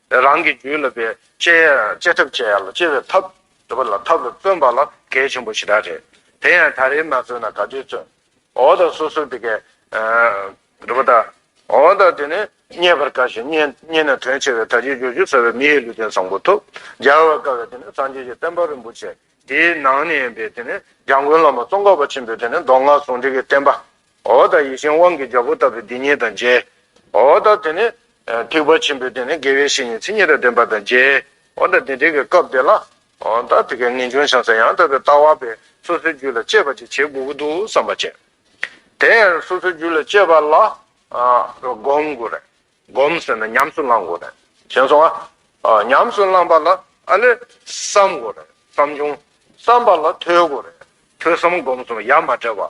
རང་གི་རྒྱུད་ལ་བའི་བཅས་ཐབས་བཅས་ཡ་ལ་བཅས་པའི་ཐབས་འདི་པ་ལ་ཐབས་ལ་བརྩོན་པ་ལ་གལ་ཆེན་པོ་ཞེ་དྲག་རེད། དེ་ཡང་ད་རེས་མ་བརྩོན་ན་ག་དུས་བརྩོན། འོ་ད་སོ་སོ་དེ་གས། འགྲོ་པ་ད། འོ་ད་དེ་ནི་རྙེད་པར་དཀའ་ཞིང་རྙེད་ན་དོན་ཆེ་བས་ད་ཅིའི་རྒྱུར་ཇི་ལྟ་བའི་མིའི་ལུས་རྟེན་བཟང་པོ་ཐོབ། སྦྱར་བར་དཀའ་བས་དེ་ནི་སངས་རྒྱས་ཀྱི་བསྟན་པ་རིན་པོ་ཆེ་འདིའི་ནང་ནས་ཡིན་པས་དེ་ནི་འཇང་དགུན་ལམ་པ་ཙོང་ཁ་པ་ཆེན་པོས་དེ་ནི་མདོ་སྔགས་ཟུང་འབྲེལ་གྱི་བསྟན་པ་འོ་ད་ཡེ་ཤེས་དབང་གི་རྒྱལ་པོ་ལྟ་བུའི་སྡིག་ཉེས་དང་མཇལ། འོ་ད་དེ་ནས། ཐེག་པ་ཆེན་པོའི་དེ་ནས་དགེ་བའི་བཤེས་གཉེན་ཚིག་གཉིས་དང་ལྡན་པ་དང་མཇལ། འོ་ད་དེ་འདྲེས་ཀྱི་སྐབས་དེ་ལ། འོ་ད་དེ་ཀའི་ངེས་འབྱུང་བྱང་ས་ཡང་དག་པའི་ལྟ་བ་པས་སོ་སོའི་རྒྱུད་ལ་སྤྱད་པ་ཅིག་བྱེད་དགོས་ཀྱི་འདུག་བསམ་པ་ཅན། དེ་ཡང་སོ་སོའི་རྒྱུད་ལ་སྤྱད་པ་ལ། བསྒོམ་དགོས་རེད། བསྒོམ་ཟེར་ན་ཉམས་སུ་བླང་དགོས་རེད། ཞན་སོང་ང། ཉམས་སུ་བླངས་པ་ལ་ཨ་ལས། བསམ་དགོས་རེད་བསམ་བྱུང། བསམ་པ་ལ་ཐོས་དགོས་རེད། ཐོས་བསམ་བསྒོམ་གསུམ་ཡ་མ་བྲལ་བ།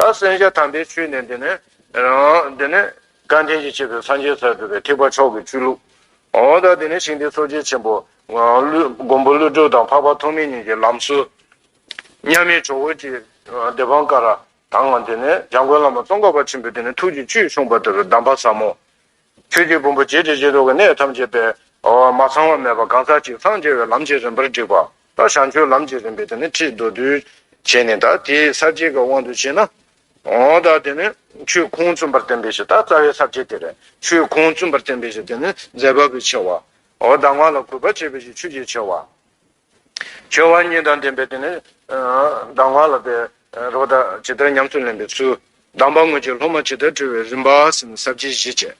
ད་གསན་བྱ་དམ་པའི་ཆོས་ནི་འདི་ནི། འདི་ནི། བཀའ་དྲིན་གྱིས་བྱས་པའི་སངས་རྒྱས་སར་གྲུབ་པའི་ཐེག་པ་མཆོག་གི་བཅུད་ལུགས། འོ་ད་འདི་ནི་ཞིང་འདིའི་ཚོགས་རྗེ་ཆེན་པོ། མགོན་པོ་ཀླུ་སྒྲུབ་དང་འཕགས་པ་ཐོགས་མེད་གཉིས་ཀྱི་ལམ་སྲོལ། མཉམ་མེད་ཇོ་བོ་རྗེའི་སྡེ་འབངས་ཀ་ར་དང། འདི་ནི་འཇམ་མགོན་བླ་མ་ཙོང་ཁ་པ་ཆེན་པོས་འདི་ནི་ཐུགས་ཀྱི་བཅུད་ཕྱུངས་པ་ལྟ་བུའི་གདམས་པ་ཟབ་མོ། ཆོས་ཀྱི་ཕུང་པོ་བརྗེད་བྱེད་བྱེད་དོ་གའི་གནས་ཐམས་ཅད་པས། མ་ཚང་བ་མེད་པར་གང་ཟག་གཅིག་སངས་རྒྱས་པའི་ལམ་གྱི་རིམ་པར་བསྒྲིགས་པ། བྱང་ཆུབ་ལམ་གྱི་རིམ་པའི་དེ་ནི་ཁྲིད་མདོར་བསྡུས་བྱས་ནས་ད་དེ་ས་བཅད་ཀྱི་དབང་དུ་བྱས་ན། ད་དེ་ནི་ཆོས་ཁུངས་བཙུན་པར་བསྟན་པའི་ཕྱིར་ད་རྩ་བའི་ས་བཅད་དེ་རེད། ཆོས་ཁུངས་བཙུན་པར་བསྟན་པའི་ཕྱིར་དེ་ནི་མཛད་པ་པོའི་ཆེ་བ། ད་ང་ལ་གུས་པར་བྱེད་པའི་ཕྱིར་ཆོས་ཀྱི་ཆེ་བ། སྦྱོར་བ་གཉིས་དང་ལྡན་པའི་དེ་ནི། ལྡང་བ་ལ་པའི་རོ་དག་ཇི་ལྟར་ཉམས་སུ་ལེན་པའི་ཚུལ། ལྡང་བ་ངོས་ཀྱི་སློབ་མ་ཇི་ལྟར་བཀྲུ་བའི་རིམ་པ་ཟིན་ས་བརྒྱད་བཞི་བྱས།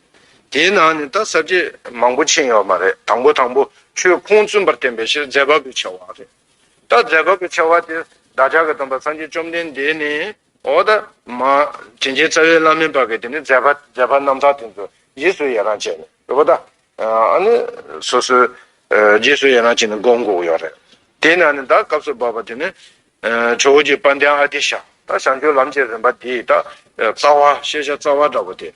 དེའི་ནང་ནས་ད་ས་བརྒྱད། མང་པོ་ཕྱིན་ཡོད་མ་རེད་དང་པོ་དང་པོ་ཆོས་ཁུངས་བཙུན་པར་བསྟན་པའི་ཕྱིར་རྫས་བབས་པའི་ཆེ་བ་རེད། ད་རྫས་བབས་པའི་ཆེ་བ་དེ་བདག་ཅག་གི་སྟོན་པ་སངས་རྒྱས་བཅོམ་ལྡན་འདས་ནི། འོ་ད་མ། དྲིན་ཅན་རྩ་བའི་བླ་མའི་བབས་པའི་དེ་ནི་རྫས་བབས་རྣམ་དག་དེ་ཚོ་ཡིད་སུ་ཡི་རང་བྱས་ནས་རེད་པ་ད། ཨཱ་ནི། སོ་སོའི། རྗེས་སུ་ཡི་རང་བྱས་ནས་སྒོམ་དགོས་ཀྱི་ཡོད་རེད། དེ་ནས་ཨ་ནི་ད་སྐབས་སུ་བབས་པ་དེ་ནི། ཇོ་བོ་རྗེ་པཎྜི་ཏའི་ཨ་ཏི་ཤ། ད་བྱང་ཆུབ་ལམ་གྱི་རིམ་པ་འདི་ད། རྩ་བ། ཤེས་བྱ་རྩ་བ་འདྲ་བོ་དེ།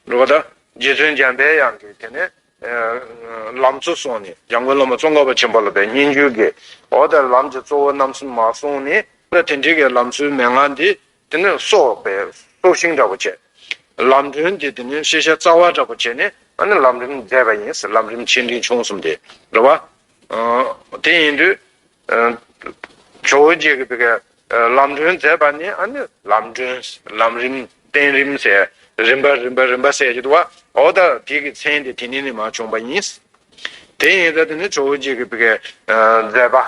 འགྲོ་བ་ད། རྗེ་བཙུན་འཇམ་པའི་དབྱངས་ཀྱིས་དེ་ནས། ལམ་གཙོ་སོང་ནས་འཇམ་མགོན་བླ་མ་ཙོང་ཁ་པ་ཆེན་པོ་ལ་པའི་སྙན་བརྒྱུད་ཀྱིས། འོ་ད་ལམ་གྱི་གཙོ་བོ་རྣམ་གསུམ་མ་གསུངས་ནས། ད་དེ་འདྲི་གའི་ལམ་སྲོལ་མན་ངག་འདི། དེ་ནས་སོགས་པའི་སྲོག་ཤིང་འདྲ་བོ་བྱས། ལམ་རིམ་དེ་དེ་ནས་ཤེས་བྱ་རྩ་བ་འདྲ་བོ་བྱས་ནས་ཨ་ནི་ལམ་རིམ་མཛད་པ་ཡིན་ཟེར་ལམ་རིམ་ཆེ་འབྲིང་ཆུང་གསུམ་དེ་འདྲ་བ། དེ་ཡིན་དུས། ཇོ་བོ་རྗེས་ཀྱི་དེ་ཀ་ལམ་སྒྲོན་མཛད་པ་ནི་ཨ་ནི་ལམ་སྒྲོན་ལམ་རིམ་བསྟན་རིམ་ཟེར་རིམ་པ་རིམ་པ་རིམ་པ་བསལ་གྱི་འདུག་བ་འོ་ད་དེ་ཀྱི་མཚན་དེ་དེ་ནས་ནི་མ་བྱུང་བ་ཡིན། དེ་ཡིན་ད་དེ་ནི་ཇོ་བོ་རྗེས་ཀྱི་དེ་ཀའི་མཛད་པ།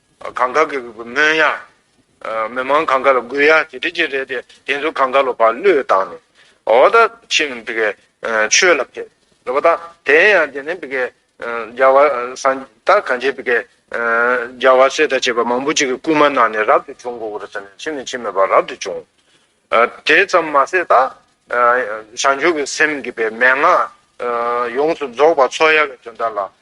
གངས་དཀར་གྱི་མོན་ཡ། མི་མང་གངས་དཀར་དགོས་ཡ་དེ་འདྲི་གྱི་རེད་དེ་དེ་ཚོ་གངས་དཀར་ལོ་བར་བློས་བཏང་ནས་འོ་ད་ཕྱིན་པི་ཀའི་ཆོས་ལ་ཕེབས་རེད་པ་ད་དེ་ཡང་དེ་ནས་པི་ཀའི་རྒྱལ་བ་སངས་ད་གངས་ཅན་པི་ཀའི་རྒྱལ་བ་སྲས་དང་བཅས་པ་མང་པོ་ཅིག་གི་སྐུལ་མ་གནང་ནས་རབ་ཏུ་བྱུང་གོ་རུ་ཟེར་ནས་ཕྱིན་ནས་ཕྱིན་མེད་པར་རབ་ཏུ་བྱུང། དེ་ཙམ་མ་ཟད་ད་བྱང་ཆུབ་ཀྱི་སེམས་བསྐྱེད་པའི་མན་ངག་ཡོངས་སུ་རྫོགས་པ་ཚོགས་ཡ་བའི་དོན་དག་ལ་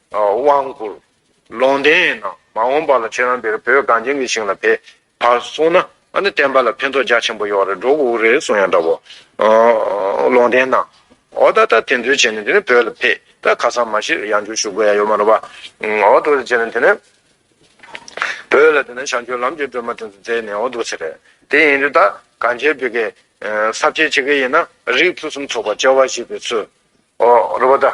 དབང་བསྐུར། ལུང་དེ་ཡིན་ན་མ་འོངས་པ་ལ་ཁྱེད་རང་འདིར་བོད་གངས་ཅན་གྱི་ཞིང་ལ་ཕེབས་བར་གསུངས་ན་ཨ་ནི་བསྟན་པ་ལ་ཕན་ཐོགས་རྒྱ་ཆེན་པོ་ཡོང་བ་རེད་འགྲོ་འུ་རེད་གསུངས་ཡང་འདྲ་བོ། ལུང་བསྟན་ན། འོ་ད་ལྟ་དེ་འདུལ་བྱས་ནས་དེ་ནས་བོད་ལ་ཕེབས་ད་ཁ་སང་མ་གཞི་ཡང་བསྒྱུར་ཞུ་དགོས་ཡ་ཡོད་མ་རེད་པ། འོ་དོ་བྱས་ནས་དེ་ནས། བོད་ལ་དེ་ནས་བྱང་ཆུབ་ལམ་གྱི་སྒྲོན་མ་དེ་ཚོ་མཛད་ནས་འོ་དོ་ཚེ་རེད། དེ་ཡིན་དུས་ད་གངས་ཅན་བོད་ཀྱི་ས་བཅད་བྱེད་མཁན་ཡིན་ན་རིགས་ཕུན་སུམ་ཚོགས་པ་བཅཝ་བཞི་པའི་ཚུལ། རེད་པ་ད།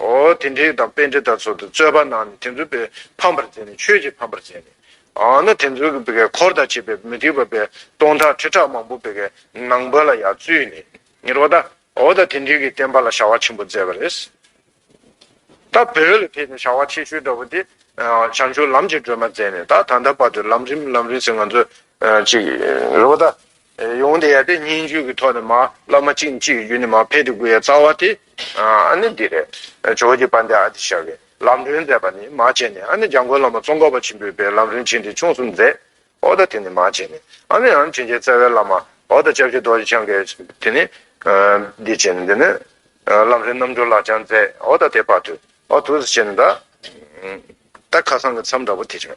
ཨོ་དེ་འདྲའི་དང་དཔེ་འདྲེ་ལྟར་ཚོལ་དུ་རྩོད་པ་ནང་ནས་དེ་ཚོ་པའི་ཕམ་པར་མཛད་ནས་ཆོས་ཀྱི་ཕམ་པར་མཛད་ནས་ཨང་ན་དེ་ཚོ་པའི་འཁོར་དང་བཅས་པའི་མུ་ཏིག་པ་པའི་སྟོང་ཕྲག་ཁྲི་ཕྲག་མང་པོ་པའི་ནང་པ་ལ་ཡང་བཙུད་ནས་ངེར་བ་དང་ཨོ་ད་དེ་འདྲའི་གི་བསྟན་པ་ལ་བྱ་བ་ཆེན་པོ་མཛད་པ་རེད། ད་བོད་ལ་ཕེབས་ནས་བྱ་བ་ཆེ་ཤོས་འདྲ་བོ་དེ་བྱང་ཆུབ་ལམ་གྱི་སྒྲོན་མ་མཛད་ནས་ད་ད་ལྟ་བར་དུ་ལམ་རིམ་ལམ་རིམ་ཟེར་ང་ཚོ་ཅིག་རེད་བ་ད། ཡོང་དེ་ཡ་དེ་སྙན་རྒྱུད་ཀྱི་ཐོག་ནས་མ་བླ་མ་གཅིག་ནས་གཅིག་གི་རྒྱུད་ནས་མ་འཕེལ་དུ་དགོས་ཡ་རྩ་བ་དེ་ཨ་ནི་འདི་རེད་ཇོ་བོ་རྗེ་པཎ་ཏས་ཨ་ཏི་ཤྲཱི་ཀའི་ལམ་སྒྲོན་མཛད་པ་ནི་མ་བྱས་ནས་ཨ་ནི་འཇམ་མགོན་བླ་མ་ཙོང་ཁ་པ་ཆེན་པོས་པའི་ལམ་སྒྲོན་བྱིན་གྱིས་ཆོངས་གསུམ་མཛད་ཨོ་ད་དེ་ནི་མ་བྱས་ནས་ཨ་ནི་རང་བྱིན་གྱིས་བརྩེ་བའི་བླ་མ་ཨོ་ད་ལྕགས་བྱི་རྡོ་རྗེ་འཆང་གའི་དེ་ནི་འདི་བྱས་ནས་འདི་ནི་ལམ་སྒྲོན་རྣམ་འབྱོར་ལགས་ཀྱང་མཛད་ཨོ་ད་དེ་བར་དུ་ཨོ་དུས་སུ་བྱས་ནས་ད་ད་ཁ་སང་གི་མཚམས་འདྲ་པོ་དེ་བྱུང།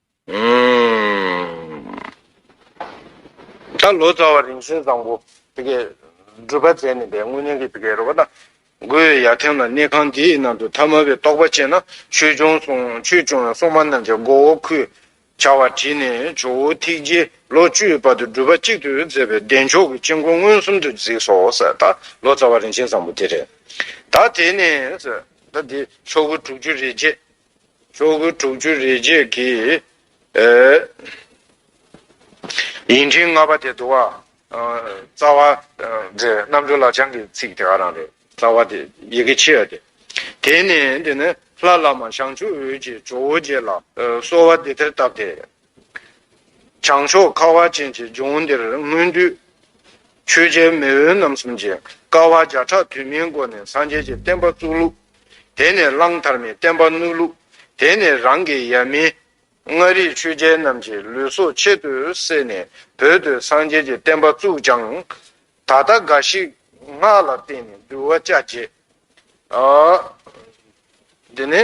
ད་ལོ་ཙཱ་བ་རིན་ཆེན་བཟང་པོ་དེ་གའི་སྒྲུབ་པ་མཛད་ནས་པའི་སྔོན་གནས་ཀྱི་དེ་གའི་རོལ་པ་དང་སྒོས་ཡར་ཐེམ་ལ་གནས་ཁང་དེའི་ནང་དུ་ཐ་མལ་པའི་རྟོགས་པ་སྤྱད་ན་ཆོས་འབྱུང་ཡང་སྲུང་མ་རྣམས་ཀྱི་མགོ་བོ་ཁུས་བྱ་བ་བྲིས་ནས་ཇོ་བོ་ཐིག་རྗེ་ལོ་བཅུའི་བར་དུ་སྒྲུབ་པ་གཅིག་ཏུ་མཛད་པའི་བདེ་མཆོག་གི་དཀྱིལ་འཁོར་མངོན་སུམ་དུ་གཟིགས་སོ་ཟེར་ད་ལོ་ཙཱ་བ་རིན་ཆེན་བཟང་པོ་དེ་རེད་ད་དེ་ནས་ཟེར་ད་དེ་ཤོག་བུ་དྲུག་ཅུ་རེ་བརྒྱད་ཆོས་སྐུ་དྲུག་ཅུ་རེ་བརྒྱད་ཀྱི། ཡིན་ཕྲིན་ལྔ་པ་དེ་བསྡུ་བ། རྩ་བ། རྣམ་གྲོལ་ལ་བྱང་གི་ཚིག་དེ་ག་རང་རེད། རྩ་བ་དེ་ཡི་གེ་ཕྱི་ཡ་དེ། དེ་ནས་འདི་ནི། ལྷ་བླ་མ་བྱང་ཆུབ་འོད་ཀྱི་ཇོ་བོ་རྗེ་ལ། གསོལ་བ་འདི་ལྟར་བཏབ་སྟེ། བྱང་ཕྱོགས་ཁ་བ་ཅན་གྱི་ལྗོངས་འདིར་སྔོན་དུས་ཆོས་རྒྱལ་མེས་དབོན་རྣམ་གསུམ་གྱིས་དཀའ་བ་བརྒྱ་ཕྲག་དུས་མིན་སྒོ་ནས་སངས་རྒྱས་ཀྱི་བསྟན་པ་བཙུགས་ལུགས། དེ་ནས་གླང་དར་མའི་བསྟན་པ་བསྣུབས་ལུགས། དེ་ནས་རང་གི་ཡབ་མེས་མངའ་རིས་ཆོས་རྒྱལ་རྣམས་ཀྱིས་ལུས་སྲོག་ཆེད་དུ་བསྲེས་ནས་བོད་དུ་སངས་རྒྱས་ཀྱི་བསྟན་པ་བཙུགས་ཀྱང། ད་ལྟ་འགའ་ཞིག་སྔགས་ལ་བརྟེན་ནས་འདུལ་བ་ཅག་བརྗེད། འདི་ནི།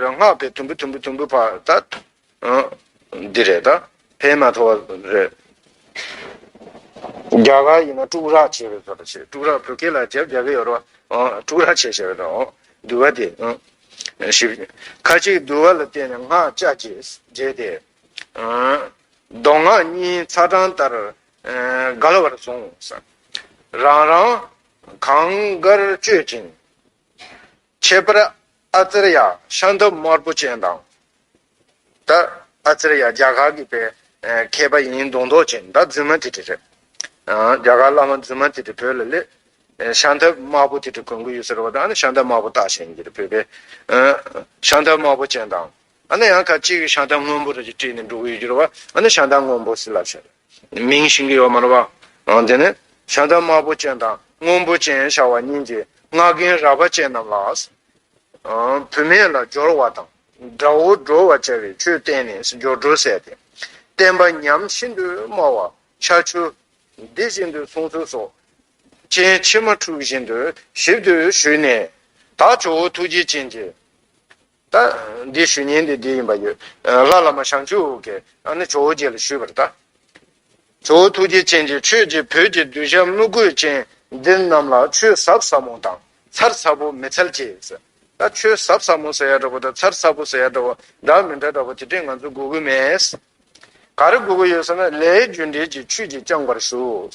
རང་སྔགས་པས་དུམ་བུ་དུམ་བུ་དུམ་བུ་བར་ད། འདི་རེད་ད་ཕན་མ་ཐོག་རེད། རྒྱ་གར་ཡིན་ན་དཀྲུག་རག་བྱེད་བའི་བཟོ་ལ་བྱེད་དཀྲུག་རག་བོད་སྐད་ལ་རྒྱབ་རྒྱག་གི་ཡོད་རོ། དཀྲུག་རག་བྱེད་བྱེད་རོ། འདུལ་བ་དེ། ཁ་ཅིག་འདུལ་བ་ལ་བརྟེན་ནས་སྔགས་ལྕགས་ཀྱིས་བརྗེས་ཏེ། མདོ་སྔགས་གཉིས་ཚ་གྲང་ལྟར། ག་ལ་བར་བཟུང། རང་རང་གངས་དཀར་སྤྱོད་ཅིང། ཁྱད་པར་ཨ་ཙེར་ཡ་ཤང་འདབ་དམར་པོ་ཅན་དང། ད་ཨ་ཙེར་ཡ་རྒྱ་གར་གྱི་པའི་མཁས་པ་ཡིན་མདོག་མདོག་ཅན་ད་རྫུན་མ་དེ་དྲི་རེད། རྒྱ་གར་བླ་མ་རྫུན་མ་དེ་དྲི་བོད་ལ་ལས་ཤང་འདབ་དམར་པོ་དེ་དྲི་གོན་གྱི་ཡོད་ཟེར་བ་ད་ནི་ཤང་འདབ་དམར་པོ་བཏགས་བཞིན་ཡིན་གྱི་རེད་བོད་པའི་ཤང་འདབ་དམར་པོ་ཅན་དང། ཨ་ན་ཡང་ཁ་ཅིག་གིས་ཤང་ཏང་སྔོན་པོ་རུ་ཅིག་བྲིས་ནས་འབྲུག་ཡུལ་བསྒྱུར་བ་ཨ་ན་ཤང་ཏང་སྔོན་པོ་སི་ལ་ཞེས་མིང་བྱིན་གྱི་ཡོད་མ་རུ་བ། དེ་ནས་ཤང་ཏང་དམར་པོ་ཅན་དང་སྔོན་པོ་ཅན་ཤ་བ་གཉིས་ཀྱིས་སྔགས་རྒན་ར་བ་ཅན་རྣམས་ལ། བུད་མེད་ལ་སྦྱོར་བ་དང་དགྲ་བོ་སྒྲོལ་བར་བྱ་བའི་ཆོས་བསྟན་ནས་སྦྱོར་སྒྲོལ་བསལ་ཏེ། བསྟན་པ་ཉམས་ཤིན་ཏུ་དམའ་བ་ཤ་ཆུ། འདི་བཞིན་དུ་གསུང་ཚུལ་སོགས་སྤྱན་ཕྱི་མ་འཁྲུགས་བཞིན་དུ་ཞིབ་ཏུ་ཞུས་ནས། དག་ཆུ་བོ་ཐུགས་རྗེ་ཅན་གྱིས། ད་འདིའི་ཞུ་སྙན་དེ་འདི་ཡིན་པ་ཡོད། ལྷ་བླ་མ་ཞང་ཆུ་བོ་ཀེ་ཨ་ནི་ཇོ་བོ་རྗེ་ལ་ཞུས་པར་ལྟ། ཇོ་བོ་ཐུགས་རྗེ་ཅན་གྱིས་ཁྱོད་ཀྱིས་བོད་ཀྱི་གདུལ་བྱ་དམུ་རྒོད་ཅན་འདི་རྣམས་ལ་ཆོས་ཟབ་ཟབ་མོ་དང་མཚར་མཚར་པོ་མི་འཚལ་ཅེས་ཟེར། ད་ཆོས་ཟབ་ཟབ་མོ་ཟེར་ཡ་འདྲ་པོ་དང་མཚར་མཚར་པོ་ཟེར་ཡ་འདྲ་བ་འདྲ་མི་འདྲ་འདྲ་བ་དེ་འདྲས་ང་ཚོས་གོ་གི་མེད། ག་རེ་གོ་གི་ཡོད་ཟེར་ན་ལས་རྒྱུ་འབྲས་ཀྱི་ཆུས་ཀྱིས་བསྐྱངས་པར་ཞུ།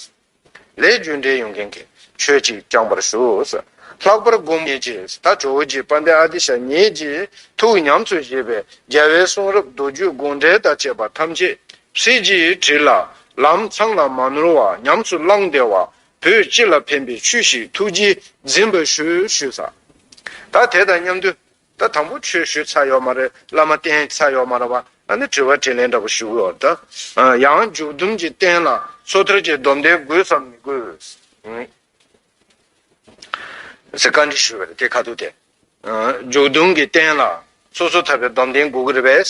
ལས་རྒྱུ་འབྲས་ཡོང་མཁན་གྱི་ཆོས་ཅིག་བསྐྱངས་པར་ཞུ། ལྷག་པར་དགོང་མོ་ཉིན་གཅིག་ད་ཇོ་བོ་རྗེ་པཎྜི་ཏའི་ཨ་ཏི་ཤ་ཉིད་ཀྱིས་ཐུགས་ཉམས་སུ་བཞེས་པའི་རྒྱལ་བའི་གསུང་རབ་མདོ་རྒྱུད་དགོངས་འགྲེལ་དང་བཅས་པ་ཐམས་ཅད་ཧྲིལ་གྱིས་བྲིས་ལ། ལམ་འཚམས་ལ་མ་ནོར་བར་ཉམས་སུ་བླངས་བདེ་བ་བོད་སྤྱི་ལ་ཕན་པའི་ཆོས་ཤིག་ཐུགས་རྗེས་འཛིན་པར་ཞུ། ད་དེ་དང་མཉམ་དུ་ད་དང་པོ་ཆོས་ཞུ་ཚར་ཡོག་མ་རེད་བླ་མ་བསྟེན་ཚར་ཡོག་མ་རེད་བ་ཨ་ནི་དྲི་བ་དྲིས་ལན་འདྲ་པོ་ཞུ་གི་ཡོག་ད། ཡང་འཇུག་བསྡོམས་ཀྱི་རྟེན་ལ་སོ་ཐར་གྱི་སྡོམ་ལྡན་དགོས་སམ་མི་དགོས། ཟེར་བཀའ་འདྲི་ཞུ་བའི་རེད་དེ་ཁ་ཐུག་དེ། འཇུག་བསྡོམས་ཀྱི་རྟེན་ལ་སོ་སོ་ཐར་པའི་སྡོམ་ལྡན་དགོས་ཀྱི་རེད་པས།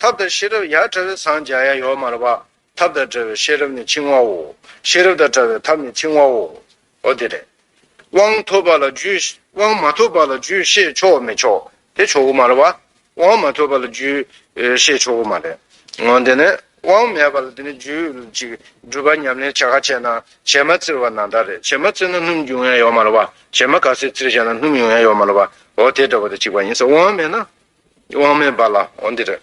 ཐབས་དང་ཤེས་རབ་ཡར་བཀྲ་བས་སངས་རྒྱ་ཡ་ཡོ་མར་བ། ཐབས་དང་བྲལ་བའི་ཤེས་རབ་ནི་འཆིང་བའོ། ཤེས་རབ་དང་བྲལ་བའི་ཐབས་ནི་འཆིང་བའོ། ཨོ་དེ་རེད། དབང་ཐོབ་པ་ལ་རྒྱུས། དབང་མ་ཐོབ་པ་ལ་རྒྱུས་ཤེས་ཆོག་མི་ཆོག་དེ་ཆོག་གོ་མར་བ། དབང་མ་ཐོབ་པ་ལ་རྒྱུས་ཤེས་ཆོག་གོ་མ་རེད། ཨོ་དེ་ནས་དབང་མེད་པ་ལ་དེ་ནས་རྒྱུས་ཅིག་སྒྲུབ་པ་ཉམས་ལེན་བྱ་ག་བྱས་ན་བྱེ་མ་བཙིར་བ་ན་ད་རེད་བྱེ་མ་བཙིར་ན་སྣུམ་རྒྱུ་ཡ་ཡོ་མར་བ། བྱེ་མ་ག་སེ་བཙིར་བྱས་ན་སྣུམ་ཡོང་ཡ་ཡོ་མར་བ། ཨོ་དེ་འདྲ་བ་དེ་གཅིག་པ་ཡིན་ས་དབང་མེད་ན། དབང་མེད་པ་ལ་འོ་འདི་རེད།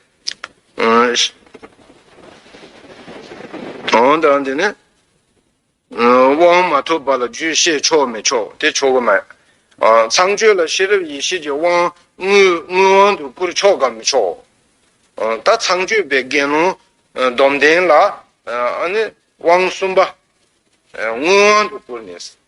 འོ་དང་འདི་ནི། དབང་མ་ཐོབ་པ་ལ་རྒྱུད་བཤད་ཆོག་མི་ཆོག་དེ་ཆོག་གི་མེད། ཚངས་སྤྱོད་ལ་ཤེས་རབ་ཡེ་ཤེས་ཀྱི་དབང་དངོས་དབང་དུ་བསྐུར་ཆོག་གམ་མི་ཆོག། ད་ཚངས་སྤྱོད་པའི་དགེ་སློང་སྡོམ་ལྡན་ལ་དབང་གསུམ་པ་དངོས་དབང་དུ་བསྐུར་ནས།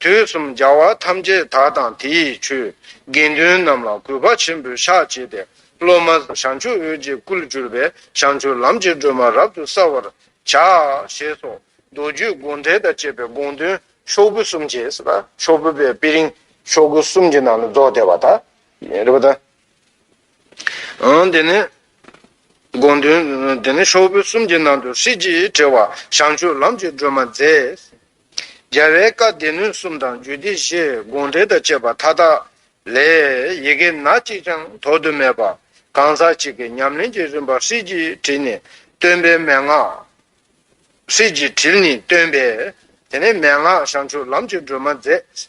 དུས་གསུམ་རྒྱལ་བ་ཐམས་ཅད་དག་དང་དེ་ཡི་ཆོས། དགེ་འདུན་རྣམས་ལ་གུས་པ་ཆེན་པོས་ཕྱག་བྱས་ཏེ། སློབ་མ་བྱང་ཆུབ་འོད་ཀྱི་སྐུར་གྱུར་པའི་བྱང་ཆུབ་ལམ་གྱི་སྒྲོན་མ་རབ་ཏུ་གསལ་བར་བྱ། ཞེས་སོགས་མདོ་རྒྱུད་དགོངས་འགྲེལ་དང་བཅས་པའི་དགོངས་དོན་ཤོག་བུ་གསུམ་གྱི། ཤོག་བུ་པའི་དཔེ་རིང་ཤོག་གུ་གསུམ་གྱི་ནང་ལ་རྫོགས་བསྡད་པ་དག་རེད་པ་དང། དེ་ནས་དགོངས་དོན། ཤོག་བུ་གསུམ་གྱི་ནང་དུ་ཧྲིལ་གྱིས་བྲེལ་བ་བྱང་ཆུབ་ལམ་གྱི་སྒྲོན་མ་མཛད། རྒྱལ་བའི་བཀའ་སྡེ་སྣོད་གསུམ་དང་རྒྱུད་སྡེ་བཞི་དགོངས་འགྲེལ་དང་བཅས་པ་མཐའ་དག་ལས། ཡི་གེ་སྣ་གཅིག་ཀྱང་དོར་དུ་མེད་པ། གང་ཟག་གཅིག་གི་ཉམས་ལེན་གྱི་རིམ་པ་ཧྲིལ་གྱིས་དྲིལ་ནས་སྟོན་པའི་མན་ངག། ཧྲིལ་གྱིས་དྲིལ་ནས་སྟོན་པའི། དེ་ནས་མན་ངག་བྱང་ཆུབ་ལམ་གྱི་སྒྲོན་མ་མཛད།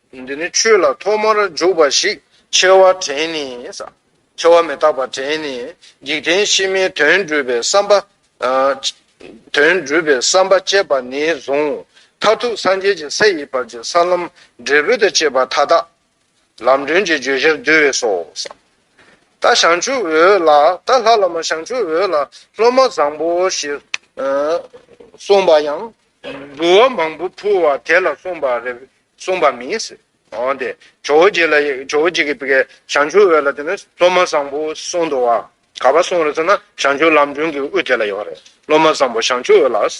འདི་ནི་ཆོས་ལ་ཐོག་མར་འཇུག་པ་ཞིག། འཆལ་བ་དྲན་ནས། འཆལ་བ་མི་རྟག་པ་དྲན་ནས། འཇིག་རྟེན་ཕྱི་མའི་དོན་སྒྲུབ་པའི་བསམ་པ། དོན་སྒྲུབ་པའི་བསམ་པ་བསྐྱེད་པ་ནས་བཟུང། མཐར་ཐུག་སངས་རྒྱས་ཀྱི་ས་ཡི་བར་གྱི་ས་ལམ་འབྲས་བུ་དང་བཅས་པ་མཐའ་དག། ལམ་སྒྲོན་གྱི་བརྗོད་བྱར་འདུས་བས་སོ། རྟ་ཞང་ཆུ་འོད་ལ། རྟ་ལྷ་བླ་མ་ཞང་ཆུ་འོད་ལ་སློབ་མ་བཟང་པོ་ཞེས་གསུངས་པ་ཡང། འབུལ་བ་མང་པོ་ཕུལ་བ་དེ་ལ་གསུངས་པ་རེད། གསུངས་པ་མིན། འོན་ཏེ་ཇོ་བོ་རྗེ་ལ་ཇོ་བོ་རྗེ་ཀྱི་བཀའི་བྱང་ཆུབ་འོད་ལ་དེ་ནི་སློབ་མ་བཟང་པོ་གསུངས་འདུག་བ། ག་པར་གསུངས་རེད་ཟེར་ན་བྱང་ཆུབ་ལམ་སྒྲོན་གྱི་དབུ་དེ་ལ་ཡོད་རེད་སློབ་མ་བཟང་པོ་བྱང་ཆུབ་འོད་ལ། ད་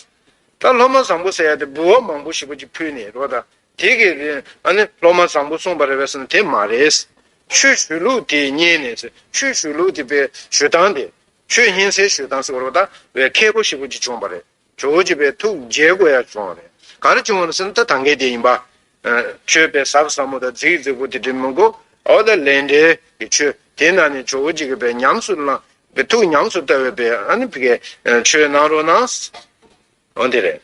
སློབ་མ་བཟང་པོ་ཟེར་ཡ་དེ་འབུལ་བ་མང་པོ་ཞིག་པོ་ཅིག་ཕུལ་ནས་རོགས་དང། དེ་གི་རེད་ཨ་ནི་སློབ་མ་བཟང་པོ་གསུངས་པ་རེད་བས་ཟེར་ན་དེ་མ་རེད། ཆོས་ཞུ་ལུགས་དེ་རྙེད་ནས་ཟེར་ཆོས་ཞུ་ལུགས་དེ་པའི་ཞུ་སྟངས་དེ། ཆོས་མཉན་སའི་ཞུ་སྟངས་ཟེར་བ་རོགས་ད་བའི་མཁས་པོ་ཞིག་པོ་ཅིག་བྱུང་བ་རེད། ཇོ་བོ་རྗེ་པའི་ཐུགས་རྗེའི་སྒོ་ཡར་བྱུང་བ་རེད། གར་བྱུང་བ་སེམས་ཐག་དང་གེ་དེ་ཡིན་པ། མཆོད་པའི་ཟབ་ཟབ་མོ་དང་རྫིག་རྫིག་པོ་དེ་དྲིན་མི་གོ། འོ་ད་ལས་འབྲས་ཀྱི་ཆོས་དེ་ན་ནི་ཇོ་བོ་རྗེ་གི་པའི་ཉམས་སུ་བླངས། པའི་ཐུགས་ཉམས་སུ་བསྟར་བའི་པའི། ཆོས་གནང་རོགས་གནང། འོ་དེ་རེད།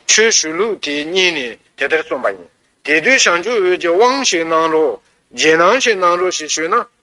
ཆོས་ཞུ་ལུགས་དེ་གཉིས་ནི་དེ་ལྟར་རྩོམ་པ་ཡིན། དེ་དུས་ཞང་ཆུང་འོད་ཀྱིས་དབང་ཞིག་གནང་རོགས། རྗེས་གནང་ཞིག་གནང་རོགས་ཞེས་ཞུས་ན།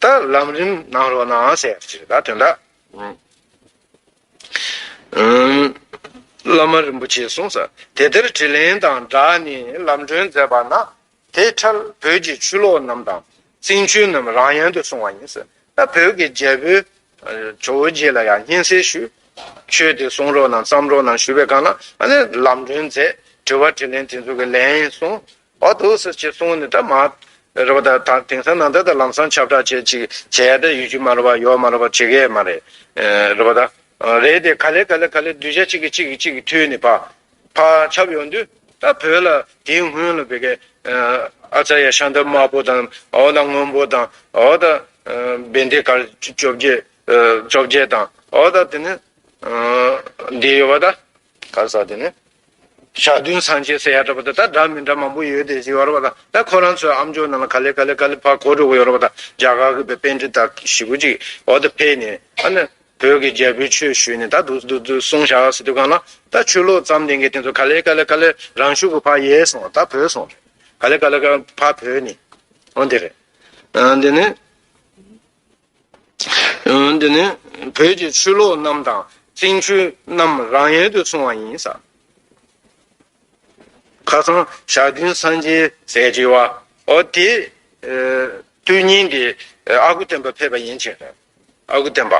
ད་ལམ་རིམ་གནང་རོགས་གནང་ཟེར་ཡག་ཅིག་ད་དོན་དག་བླ་མ་རིན་པོ་ཆེས་གསུངས་ས་དེ་ལྟར་དྲི་ལན་དང་སྦྲགས་ནས་ལམ་སྒྲོན་མཛད་པ་ན་དེ་འཕྲལ་བོད་ཀྱི་ཆུ་ལོག་རྣམས་དང་རྩིང་ཆུ་རྣམས་རང་ཡན་དུ་སོང་བ་ཡིན་ཟེར་ད་བོད་ཀྱི་རྒྱལ་པོའི་ཇོ་བོ་རྗེ་ལ་ཡང་སྙན་གསལ་ཞུས་ཆོས་དེ་གསུང་རོགས་གནང་བརྩམས་རོགས་གནང་ཞུས་པའི་སྒང་ན་ཨ་ནི་ལམ་སྒྲོན་མཛད་དྲི་བ་དྲི་ལན་དེ་ཚོ་གི་ལན་གསུངས་བར་དུ་སུ་ཅི་གསུང་ནི་ད་མ། རེད་བ་ད་ད་དེང་སང་ནང་བསྟན་དང་ལམ་སང་ཁྱབ་བསྒྲགས་བྱེད་ཅིག་བྱེད་ཡ་ད་ཡོད་རྒྱུ་མ་རེད་བ་ཡོད་མ་རེད་བ་བྱེད་གི་ཡ་མ་རེད། རེད་བ་ད། རེད་དེ་ག་ལེ་ག་ལེ་ག་ལེ་གདུལ་བྱ་གཅིག་གི་གཅིག་གི་གཅིག་གི་མཐུས་ནི་བ། བ་ཁྱབ་ཡོང་དུས་ད་བོད་ལ་དེའི་སྔོན་ལ་བི་ཀའི། ཨ་ཙར་ཡ་ཤཱནྟ་དམར་པོ་དང་འོ་ད་སྔོན་པོ་དང་འོ་ད། བན་དེ་གར་བཅོ་བརྒྱད། བཅོ་བརྒྱད་དང་འོ་ད་དེ་ནི། འདི་ཡོད་བ་ད། ག་ས་དེ་ནི། ཞག་བདུན་སང་བྱས་ཟེར་ཡག་འདྲ་པོ་དང་ད་འདྲ་མི་འདྲ་མང་པོ་ཡོད་དེ་ཟེར་ཡོད་རེད་པ་དང་ད་ཁོ་རང་ཚོའི་ཨམ་ཅོག་ནང་ལ་ག་ལེ་ག་ལེ་ག་ལེ་ཕར་གོ་འགྲོ་གི་ཡོད་རེད་པ་དང་རྒྱ་གར་གི་བོད་དཔོན་འདི་དག་ཞི་གུ་ཅིག་འོག་ཏུ་ཕེབས་ནས་ཨ་ནི་བོད་ཀྱི་རྒྱལ་པོའི་ཆོས་ཞུས་ནས་ད་འདུག་འདུག་འདུག་གསུང་བཞག་ཟེར་དུས་གང་ལ་ད་ཆོས་ལོག་ཙམ་ལྡན་གི་དེ་ཚོ་ག་ལེ་ག་ལེ་ག་ལེ་རང་ཤུགས་ཀྱི་ཕར་ཡལ་སོང་ད་བོས་སོང་ག་ལེ་ག་ལེ་ག་ཕར་བོས་ནས་འོན་དེ་རེད་འདི་ནི། འདི་ནི་བོད་ཀྱི་ཆོས་ལོག་རྣམས་དང། བཙན་བྱོལ་རྣམས་རང་ཡལ་དུ་སོང་བ་ཡིན། ཁ་སང་ཞག་བདུན་སངས་རྒྱས་ཟས་བཅད་བ། ཨོ་དེ། དུས་ཉིན་དེ་ཨ་ཁུ་སྟོན་པ་ཕེབས་པ་ཡིན་ཕྱིན། ཨ་ཁུ་སྟོན་པ།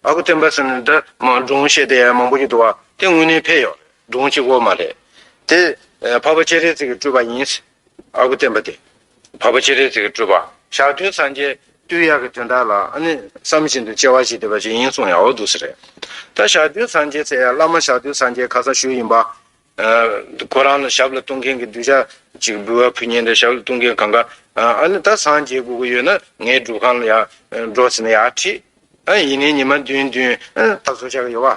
ཨ་ཁུ་སྟོན་པ་ཟེར་ནས་འདི་སྒྲུང་བཤད་དེ་མང་པོ་ཞིག་འདུག་བ་དེ་དངོས་གནས་ཕེབས་ཡོད་རེད་སྒྲུང་གཅིག་བོ་མ་རེད། དེ་ཕ་བ་སྤྱན་རས་གཟིགས་སྤྲུལ་པ་ཡིན། ཨ་ཁུ་བསྟན་པ་དེ། བར་པ་ཅི་རེད་ཟེར་གི་སྤྲུལ་པ། ཞག་བདུན་སངས་རྒྱས་སྟོད་ཡག་གི་དོན་དག་ལ་ཨ་ནི་བསམ་བཞིན་དུ་སྐྱེ་བ་ཞིག་འདི་པ་ཅིག་ཡིན་གསུངས་ཡག་བོ་འདུག་ཟེར་རེད། ད་ཞག་བདུན་སངས་རྒྱས་ཟེར་ཡ་བླ་མ་ཞག་བདུན་སངས་རྒྱས་ཁ་སང་ཞུས་ཡིན་པ། ཁོ་རང་ལ་ཞབས་ལ་གཏོང་མཁན་གྱི་གདུལ་བྱ་ཅིག་འབུལ་བ་ཕུལ་ཉེན་ད་ཞབས་ལ་གཏོང་མཁན་གང་ག་ཨ་ནི་ད་སངས་རྒྱས་དགོས་ཀྱི་ཡོད་ན་ངའི་སྒྲུབ་ཁང་ལ་ཡག་འགྲོ་ཟེར་ན་ཡག་ཁྲིད། ཡིན་ནའི་ཉི་མ་བདུན་བདུན་ད་བཟོ་བྱ་གི་ཡོད་བ།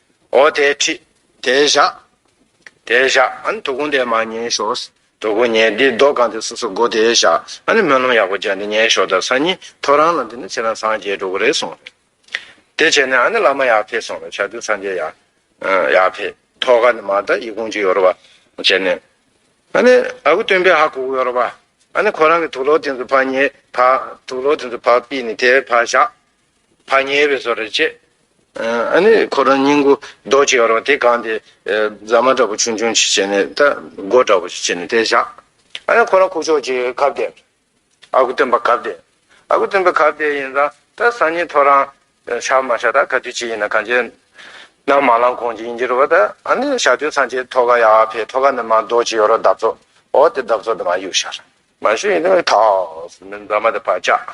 ཨོ་དེ་ཁྲིད། དེ་བཞག། དེ་བཞག། ཨ་ནི་དོ་དགོང་དེ་མ་ཉན་ཞོགས། དོ་དགོང་ཉན་དེ་རྡོ་གང་དེ་སོ་སོ་སྒོ་དེ་བཞག་ཨ་ནི་སྨོན་ལམ་ཡག་པོ་བརྒྱག་དེ་ཉན་ཞོགས་ད་སང་ཉིན་ཐོ་རང་ལ་འདི་ནི་ཚེ་རང་སངས་རྒྱས་འགྲོ་གི་རེད་གསུངས། དེ་བྱས་ནས་ཨ་ནི་བླ་མ་ཡག་ཕེད་སོང་ལ་ཆ་དུས་སངས་རྒྱས་ཡག། ཡག་ཕེད་ཐོ་ག་ནི་མ་ད་ཡིད་ཀོང་ཅིག་ཡོད་རོ་བ། བྱས་ནས། ཨ་ནི་ཨ་ཁུ་སྟོན་པས་ཧ་གོ་གི་ཡོད་རོ་བ། ཨ་ནི་ཁོ་རང་གི་དུག་ལོག་དེ་ཚོ་ཕ་ཉེས་ཕ། དུག་ལོག་དེ་ཚོ་ཕ་པི་ནི་དེ་ཕ་བཞག། བག་ཉལ་བའི་བཟོ་རེ་བྱེད། ཨ་ནི་ཁོ་རང་སྙིང་གུ་རྡོ་གཅིག་ཡོད་རོགས་དེ་གང་དེ་རྫ་མ་འདྲ་པོ་ཆུང་ཆུང་ཞིག་བྱེད་ནས་ད་སྒོ་འདྲ་པོ་ཞིག་བྱེད་ནས་དེ་བཞག་ཨ་ནི་ཁོ་རང་ཁུག་ཆོག་ཅིག་གབ་སྟེ་ཨ་ཁུ་སྟོན་པ་གབ་སྟེ་ཨ་ཁུ་སྟོན་པ་གབ་སྟེ་ཡིན་ཙང་ད་སང་ཉིན་ཐོ་རང་བཞག་མ་བཞག་ད་ག་དུས་ཅི་ཡིན་ན་གངས་ཅན་ནང་མ་ལངས་གོང་ཅི་ཡིན་གྱི་རོ་བ་ད་ཨ་ནི་ཞག་བདུན་སང་ཆེད་ཐོ་ག་ཡག་ཕེ་ཐོ་ག་ནི་མ་རྡོ་གཅིག་ཡོད་རོགས་འདབ་ཚོགས་འོ་དེ་འདབ་ཚོགས་དེ་མ་གཡུག་ཤར་མ་ཞུ་ཡིན་ནོ་ཐགས་མི་རྫ་མ་དེ་བག་བཅག་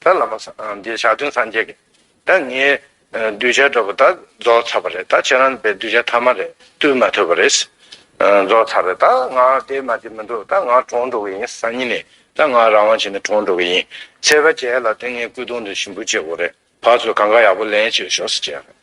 ད་ལམ་པ་སངས་རྒྱས་ཞག་བདུན་སངས་རྒྱས་ཀྱི། ད་ངའི་གདུལ་བྱ་འགྲོ་བ་ད་རྫོགས་ཚར་བ་རེད་ད་ཁྱེད་རང་པའི་གདུལ་བྱ་ཐ་མ་རེད་བཏུལ་མ་ཐུབ་པ་རེད། རྫོགས་ཚར་བས་ད་ང་དེ་མ་དེ་མི་འགྲོ་ད་ང་གྲོངས་འགྲོ་གི་ཡིན་སང་ཉིན་ནས་ད་ང་རང་དབང་བྱས་ནས་གྲོངས་འགྲོ་གི་ཡིན། ཚེ་དཔལ་རྒྱལ་ལ་དེ་ངའི་སྐུ་གདུང་དུ་ཞིམ་པོ་བཅས་འོ་རེད་བ་ཚོས་གང་ག་ཡག་པོ་ལན་བྱས་ཞོགས་ཟེར་བྱས་ཡ་རེད།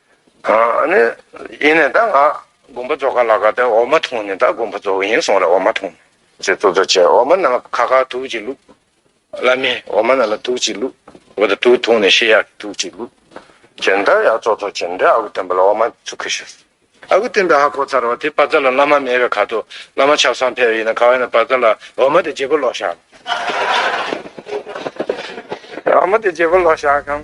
ཡིན་ནས་ད་ང་དགོན་པ་རྫོགས་ག་ལ་ག་དེ་འོ་མ་འཐུང་ནས་ད་དགོན་པ་རྫོགས་ཡིན་སོང་རེད་འོ་མ་འཐུང། ཅེས་ཙོ་ཙོ་བྱས་འོ་མ་ནང་ལ་ཁ་ཁར་དུག་ཅིག་བླུགས། བླ་མས་འོ་མ་ནང་ལ་དུག་ཅིག་བླུགས། འོ་ད་དུག་འཐུང་ནས་ཤི་ཡག་གི་དུག་ཅིག་བླུགས། ཅེས་མཐར་ཡར་ཙོ་ཙོ་བྱས་འདྲ་ཨ་ཁུ་སྟོན་པ་ལ་འོ་མ་ཚུར་ཁུར་ཤོར། ཨ་ཁུ་སྟོན་པས་ཧ་གོ་ཚར་བ་དེ་པ་ཙར་ལ་བླ་མ་མེད་པའི་ཁར་དུ་བླ་མ་ཆབ་གསང་ཕེབས་ཡིན་ན་ག་བས་ན་པ་ཙར་ལ་འོ་མ་དེ་བརྗེ་པོ་ལོག་བཞག། འོ་མ་དེ་བརྗེ་པོ་ལོག་བཞག་གམ།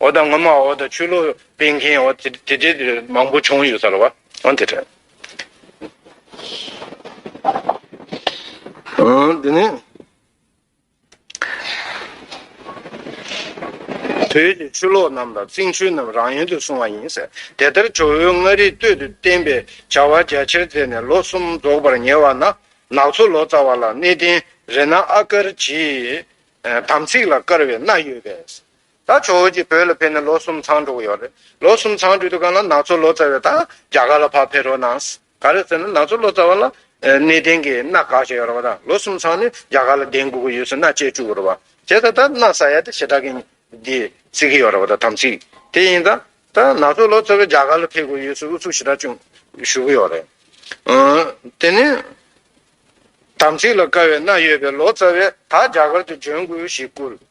འོ་ད་ངོ་མ་འོ་ད་ཆོས་ལུགས་སྤེལ་མཁན་འོ་དེ་དེ་དེ་དེ་མང་པོ་བྱུང་ཡོད་ས་ལ་བ་འོ་དེ་དྲན། འོ་དེ་ནི། བོད་ཀྱི་ཆོས་ལོག་རྣམས་དང་རྩིང་ཆོས་རྣམས་རང་ཡུལ་དུ་སོང་བ་ཡིན། དེ་ལྟར་ཇོ་བོའི་མངའ་རིས་སྟོད་དུ་བསྟན་པའི་བྱ་བ་རྒྱ་ཆེར་མཛད་ནས་ལོ་གསུམ་རྫོགས་པར་ཉེ་བ་ན་ནག་ཆུ་ལོ་ཙཱ་བ་ལ་གནས་བརྟན་རེ་ན་ཨ་དཀར་གྱིས་དམ་ཚིག་ལ་དཀར་བའི་སྣ་ཡོད་པས། ད་ཇོ་བོ་རྗེ་བོད་ལ་ཕེབས་ནས་ལོ་གསུམ་ཚང་འགྲོ་གི་ཡོད་རེད། ལོ་གསུམ་ཚང་འགྲོ་དུས་གང་ལ་ནག་ཚོ་ལོ་ཙཱ་བས་ད་རྒྱ་གར་ལ་ཕར་ཕེབས་རོགས་གནང། ག་རེད་ཟེར་ན་ནག་ཚོ་ལོ་ཙཱ་བ་ལ་གནས་གཏན་གྱི་མནའ་ག་ཞིག་ཡོད་རེད་བ་ད་ལོ་གསུམ་ཚང་ནས་རྒྱ་གར་ལ་གདན་འགུག་གི་ཡོད་ཟེར་མནའ་བཅད་བཅུག་གི་རེད་བ། དེ་ད་ད་མནའ་ཟ་ཡ་དེ་ཞེ་དྲག་གི་འདི་ཟེར་གི་ཡོད་རེད་བ་ད་དམ་ཚིག་དེ་ཡིན་ད། ད་ནག་ཚོ་ལོ་ཙཱ་བས་རྒྱ་གར་ལ་ཕེབས་དགོས་ཡོད་ཟེར་ཨུ་ཚུགས་ཞེ་དྲག་ཅུང་ཞུ་གི་ཡོད་རེད། དེ་ནས་དམ་ཚིག་ལ་དཀའ་བའི་མནའ་ཡོད་པའི་ལོ་ཙཱ་བས་ད་རྒྱ་གར་དུ་འབྱོན་དགོས་ཞེས་བསྐུལ།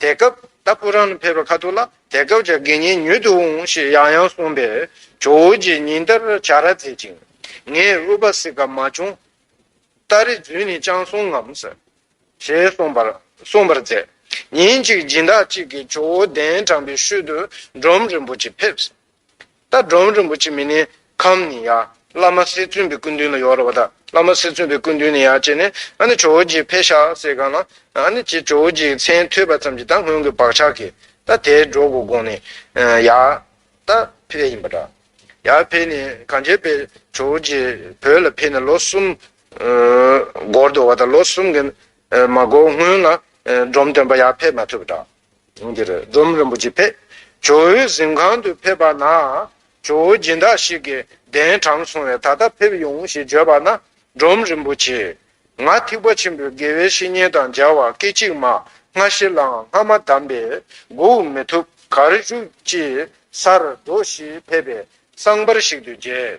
དེ་སྐབས་ད་སྤུ་རང་ནས་ཕེབས་པའི་ཁ་ཐུག་ལ་དེ་སྐབས་ཀྱི་དགེ་བསྙེན་ཉུལ་དུ་འོང་ཞེས་ཡང་ཡང་གསུངས་པས་ཇོ་བོ་རྗེས་ཉིན་ལྟར་བྱ་ར་མཛད་ཅིང། ངས་ཨུ་པ་སི་ཀ་མ་བྱུང་ལྟར་རིག་རྫུན་ནི་ཅང་གསུང་ངམ། ཞེས་གསུངས་པར་མཛད། ཉིན་གཅིག་སྦྱིན་བདག་ཅིག་གིས་ཇོ་བོ་གདན་དྲངས་པའི་ཤུལ་དུ་འབྲོམ་རིན་པོ་ཆེ་ཕེབས། རྟ་སྒྲོམ་རིན་པོ་ཆེ་མི་ནི་ཁམས་ནི་ཡ། བླ་མ་སེ་བཙུན་པའི་སྐུ་མདུན་ལ་ཡོར་བ་དང། བླ་མ་སེ་བཙུན་པའི་སྐུ་མདུན་ནི་ཡ་བྱས་ནས། ཨ་ནི་ཇོ་བོ་རྗེའི་ཕས་ཤ་བསྲེས་གང་ལ། ཨ་ནི་ཅེས་ཇོ་བོ་རྗེའི་མཚན་ཐོས་པ་ཙམ་གྱིས་ད་སྔོན་གྱི་བག་ཆགས་ཀྱིས། རྟ་དེས་སྒྲོག་གོ་དགོངས་ནས། ཡ། རྟ་ཕས་ཡིན་པ་འདྲ། ཡ་ཕས་ནི་གང་བྱས་པས་ཇོ་བོ་རྗེ་བོད་ལ་ཕེབས་ནས་ལོ་གསུམ། འགོར་འདུག་བ་དང་ལོ་གསུམ་གྱི་མ་འགོར་སྔོན་ལ། སྒྲོམ་སྟོན་པ་ཡ་ཕས་མ་ཐོས་པ་འདྲ། དེང་འདིར་སྒྲོམ་རིན་པོ་ཆེ་ཕེབས། ཇོ་བོའི་གཟིམ་ཁང་དུ་ཕེབས་པ་ན། ཇོ་བོ་སྦྱིན་བདག་ཞིག་གིས་གདན་དྲངས་སོང་བས་ད་ལྟ་ཕེབས་ཡོང་ཞེས་བརྗོད་པ་ན། སྒྲོམ་རིན་པོ་ཆེས། ང་ཐེག་པ་ཆེན་པོའི་དགེ་བའི་བཤེས་གཉེན་དང་སྦྱར་བ་སྐད་ཅིག་མ་སྔ་ཕྱི་ལའང་སྔ་མ་བསྡམས་པས་མགུ་མི་ཐུབ་གར་བཞུགས་ཅེས་སར་འགྲོ་ཞེས་ཕེབས་པས་སྲང་འབར་ཞིག་ཏུ་མཇལ།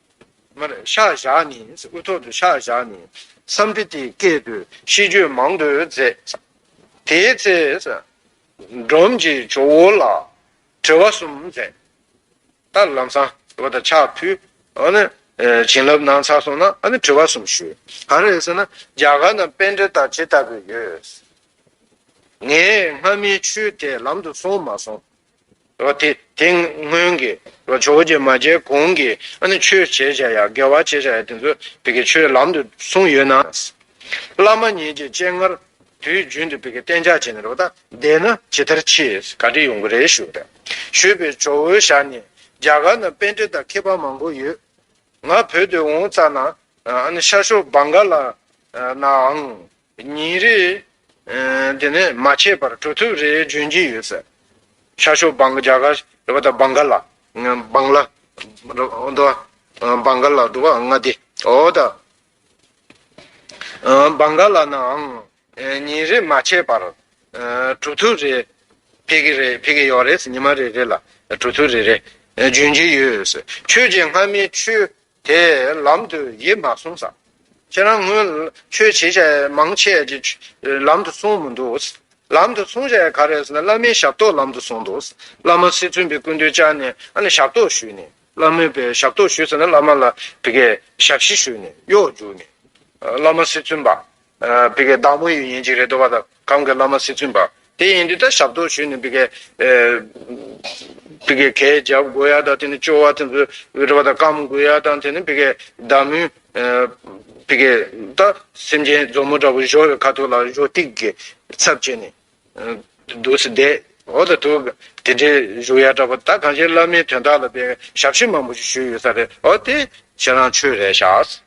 ཤ་བཞག་ནི་དབུ་ཐོག་ཏུ་ཤ་བཞག་ནི་བསམ་སྟེ་དེ་སྐད་དུ་ཤིས་བརྗོད་མང་དུ་མཛད། དེའི་ཚེ། འབྲོམ་གྱི་ཇོ་བོ་ལ་དྲི་བ་གསུམ་མཛད། ད་ལམ་བསང་བ་དང་ཕྱག་ཕུལ། བྱིན་རླབས་གནང་ཚར་སོང་ན་དྲི་བ་གསུམ་ཞུ། ག་རེ་ཟེར་ན་རྒྱ་གར་ན་དཔེ་འགྲེལ་དག་ཇི་ལྟ་བུ་ཡོད། ངས་སྔ་མའི་ཆོས་དེ་ལམ་དུ་སོང་མ་སོང། དེ་སྔོན་གྱི་ཇོ་བོ་རྗེ་མ་མཇལ་གོང་གི་ཆོས་བྱེད་བྱ་ཡག་དགེ་བ་བྱེད་བྱ་ཡག་དེ་ཚོ་བི་ཀའི་ཆོས་ལམ་དུ་གསུངས་ཡོད་ན། བླ་མ་ཉིད་ཀྱི་སྤྱན་སྔར་དུས་རྒྱུན་དུ་བི་ཀའི་གཏན་འཇགས་བྱས་ནས་རོ་ད་བསྡད་ན་ཇི་ལྟར་མཆིས་ག་དྲི་ཡོང་གི་རེད་ཞུ་རེད་ཞུས་པའི་ཇོ་བོའི་ཞར་ནས་རྒྱ་གར་ན་དཔེ་འགྲེལ་དང་མཁས་པ་མང་པོ་ཡོད། ང་བོད་དུ་འོང་ཙང་ན་ཤར་ཕྱོགས་བང་ག་ལ་ནའང་ཉིན་རེ། དེ་ནས་མ་ཆད་པར་གྲུབ་ཐོབ་རེ་འབྱོན་གྱི་ཡོད། ཤར་ཕྱོགས་བང་རྒྱ་གར་རེ་བ་དང་བང་ག་ལ། བང་ལ། བང་ག་ལ་འགྲོ་བ་ལྔ་སྡེ། འོ་ད། བང་ག་ལ་ནའང། ཉིན་རེ་མ་ཆད་པར། གྲུབ་ཐོབ་རེ། ཕེབས་ཀྱི་རེད་ཕེབས་ཀྱི་ཡོད་རེད་ཉི་མ་རེ་རེ་ལ། གྲུབ་ཐོབ་རེ་རེ། འབྱོན་གྱི་ཡོད། ཆོས་རྗེ་སྔ་མའི་ཆོས། དེ་ལམ་དུ་ཡིད་མ་གསུངས་སམ། ཁྱེད་རང་སྔོན་ཆོས་བྱེད་བྱ་མང་ཆེ་བ་གྱིས་ལམ་དུ་གསུངས་མི་འདུག། ལམ་དུ་གསུངས་བྱ་ག་རེ་ཟེར་ན་བླ་མའི་ཞབས་ཏོག་ལམ་དུ་གསུངས་འདུག། བླ་མ་སྲིད་བཙུན་པའི་སྐུ་མདུན་བཅག་ནས་ཨ་ནི་ཞབས་ཏོག་ཞུས་ནས། བླ་མའི་པའི་ཞབས་ཏོག་ཞུས་ཟེར་ན་བླ་མ་ལ་དེ་གའི་ཞབས་ཕྱི་ཞུས་ནས་གཡོག་བརྒྱུགས་ནས། བླ་མ་སྲིད་བཙུན་པ། བི་ཀའི་བདག་པོ་ཡི་ཉིན་ཅིག་རེ་དོ་བ་དང་གང་གི་བླ་མ་སྲིད་བཙུན་པ། དེ་ཡིན་དུས་ད་ཞབས་ཏོག་ཞུས་ནས་བི་ཀའི། བི་ཀའི་གས་རྒྱབ་དགོ་ཡ་དང་དེ་ནས་ཅོ་བ་དེ་ཚོས་རེ་བ་དང་སྐམ་དགོས་ཡ་དང་དེ་ནས་བི་ཀའི་བདག་མོས། བི་ཀའི་ད་སེམས་ཅན་མཛོ་མོ་འདྲ་བོ་བཞོ་བའི་ཁ་ཐུག་ལ་བཞོ་སྟིག་གི་ཚབ་བྱས་ནས། དུ་སི་བསྡད། འོ་ད་དུ་དེ་འདྲའི་བཞུགས་ཡ་འདྲ་བོ་ད་གང་ཞིག་བླ་མའི་དོན་དག་ལ་བི་ཀའི་ཞབས་ཕྱི་མང་པོ་ཞིག་ཞུས་ཡོད་ས་རེད་ཨོ་དེ་ཁྱེད་རང་ཆོས་རེད་ཤགས།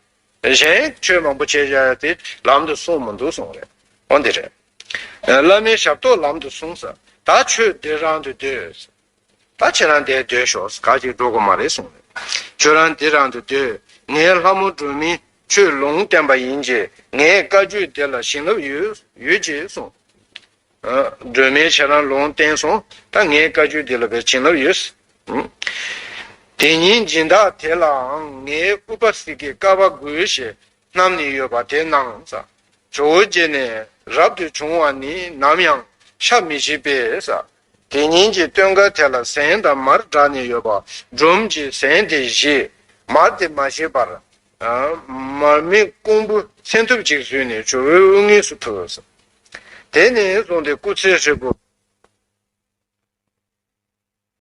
གཞན་ཆོས་མང་པོ་བྱས་བྱས་ཏེ་ལམ་དུ་སོང་མི་འདུག་གསུངས་རེད་འོ་འདི་རེད། བླ་མའི་ཞབས་ཏོག་ལམ་དུ་སོང་ཟེར་ད་ཁྱོད་འདི་རང་དུ་སྡོད། ད་ཁྱེད་རང་འདི་སྡོད་ཤོག་ག་གཅིག་འགྲོ་དགོས་མ་རེད་གསུངས་རེད། ཁྱོད་རང་འདི་རང་དུ་སྡོད་ངས་ལྷ་མོ་སྒྲོལ་མས་ཆོས་ལུང་བསྟན་པ་ཡིན་གྱི་ངས་བཀའ་བརྒྱུད་འདི་ལ་བྱིན་རླབས་ཡོད་ཡོད་ཀྱི་གསུངས། སྒྲོལ་མའི་ཆེ་རང་ལུང་བསྟན་སོང་ད་ངའི་བཀའ་བཅུ་འདི་ལ་བས་བྱིན་རླབས་ཡོད། དེ་ཉིན་སྦྱིན་བདག་དེ་ལའང་ངའི་ཨུ་པ་སི་ཀའི་ཀ་བ་དགུའི་ཞེས་རྣམས་ནི་ཡོད་པ་དེ་གནང། ཇོ་བོ་རྗེ་ནས་རབ་ཏུ་བྱུང་བ་ནི་ནམ་ཡང་ཤ་མི་བཞི་པས། དེ་ཉིན་གྱི་སྟོན་ཀ་དེ་ལ་ཟན་དང་མར་བསྒྲགས་ནས་ཡོད་པ་སྒྲོམ་གྱིས་ཟན་དེ་བཞེས། མར་དེ་མ་བཞེས་པར། མར་མེ་རྐོང་བུ་མཚན་ཐུབ་ཅིག་བཟོས་ནས་ཇོ་བོའི་དབུ་སྔས་སུ་ཕུལ། དེ་ནས་བཟུང་སྟེ་སྐུ་ཚེའི་ཧྲིལ་པོ།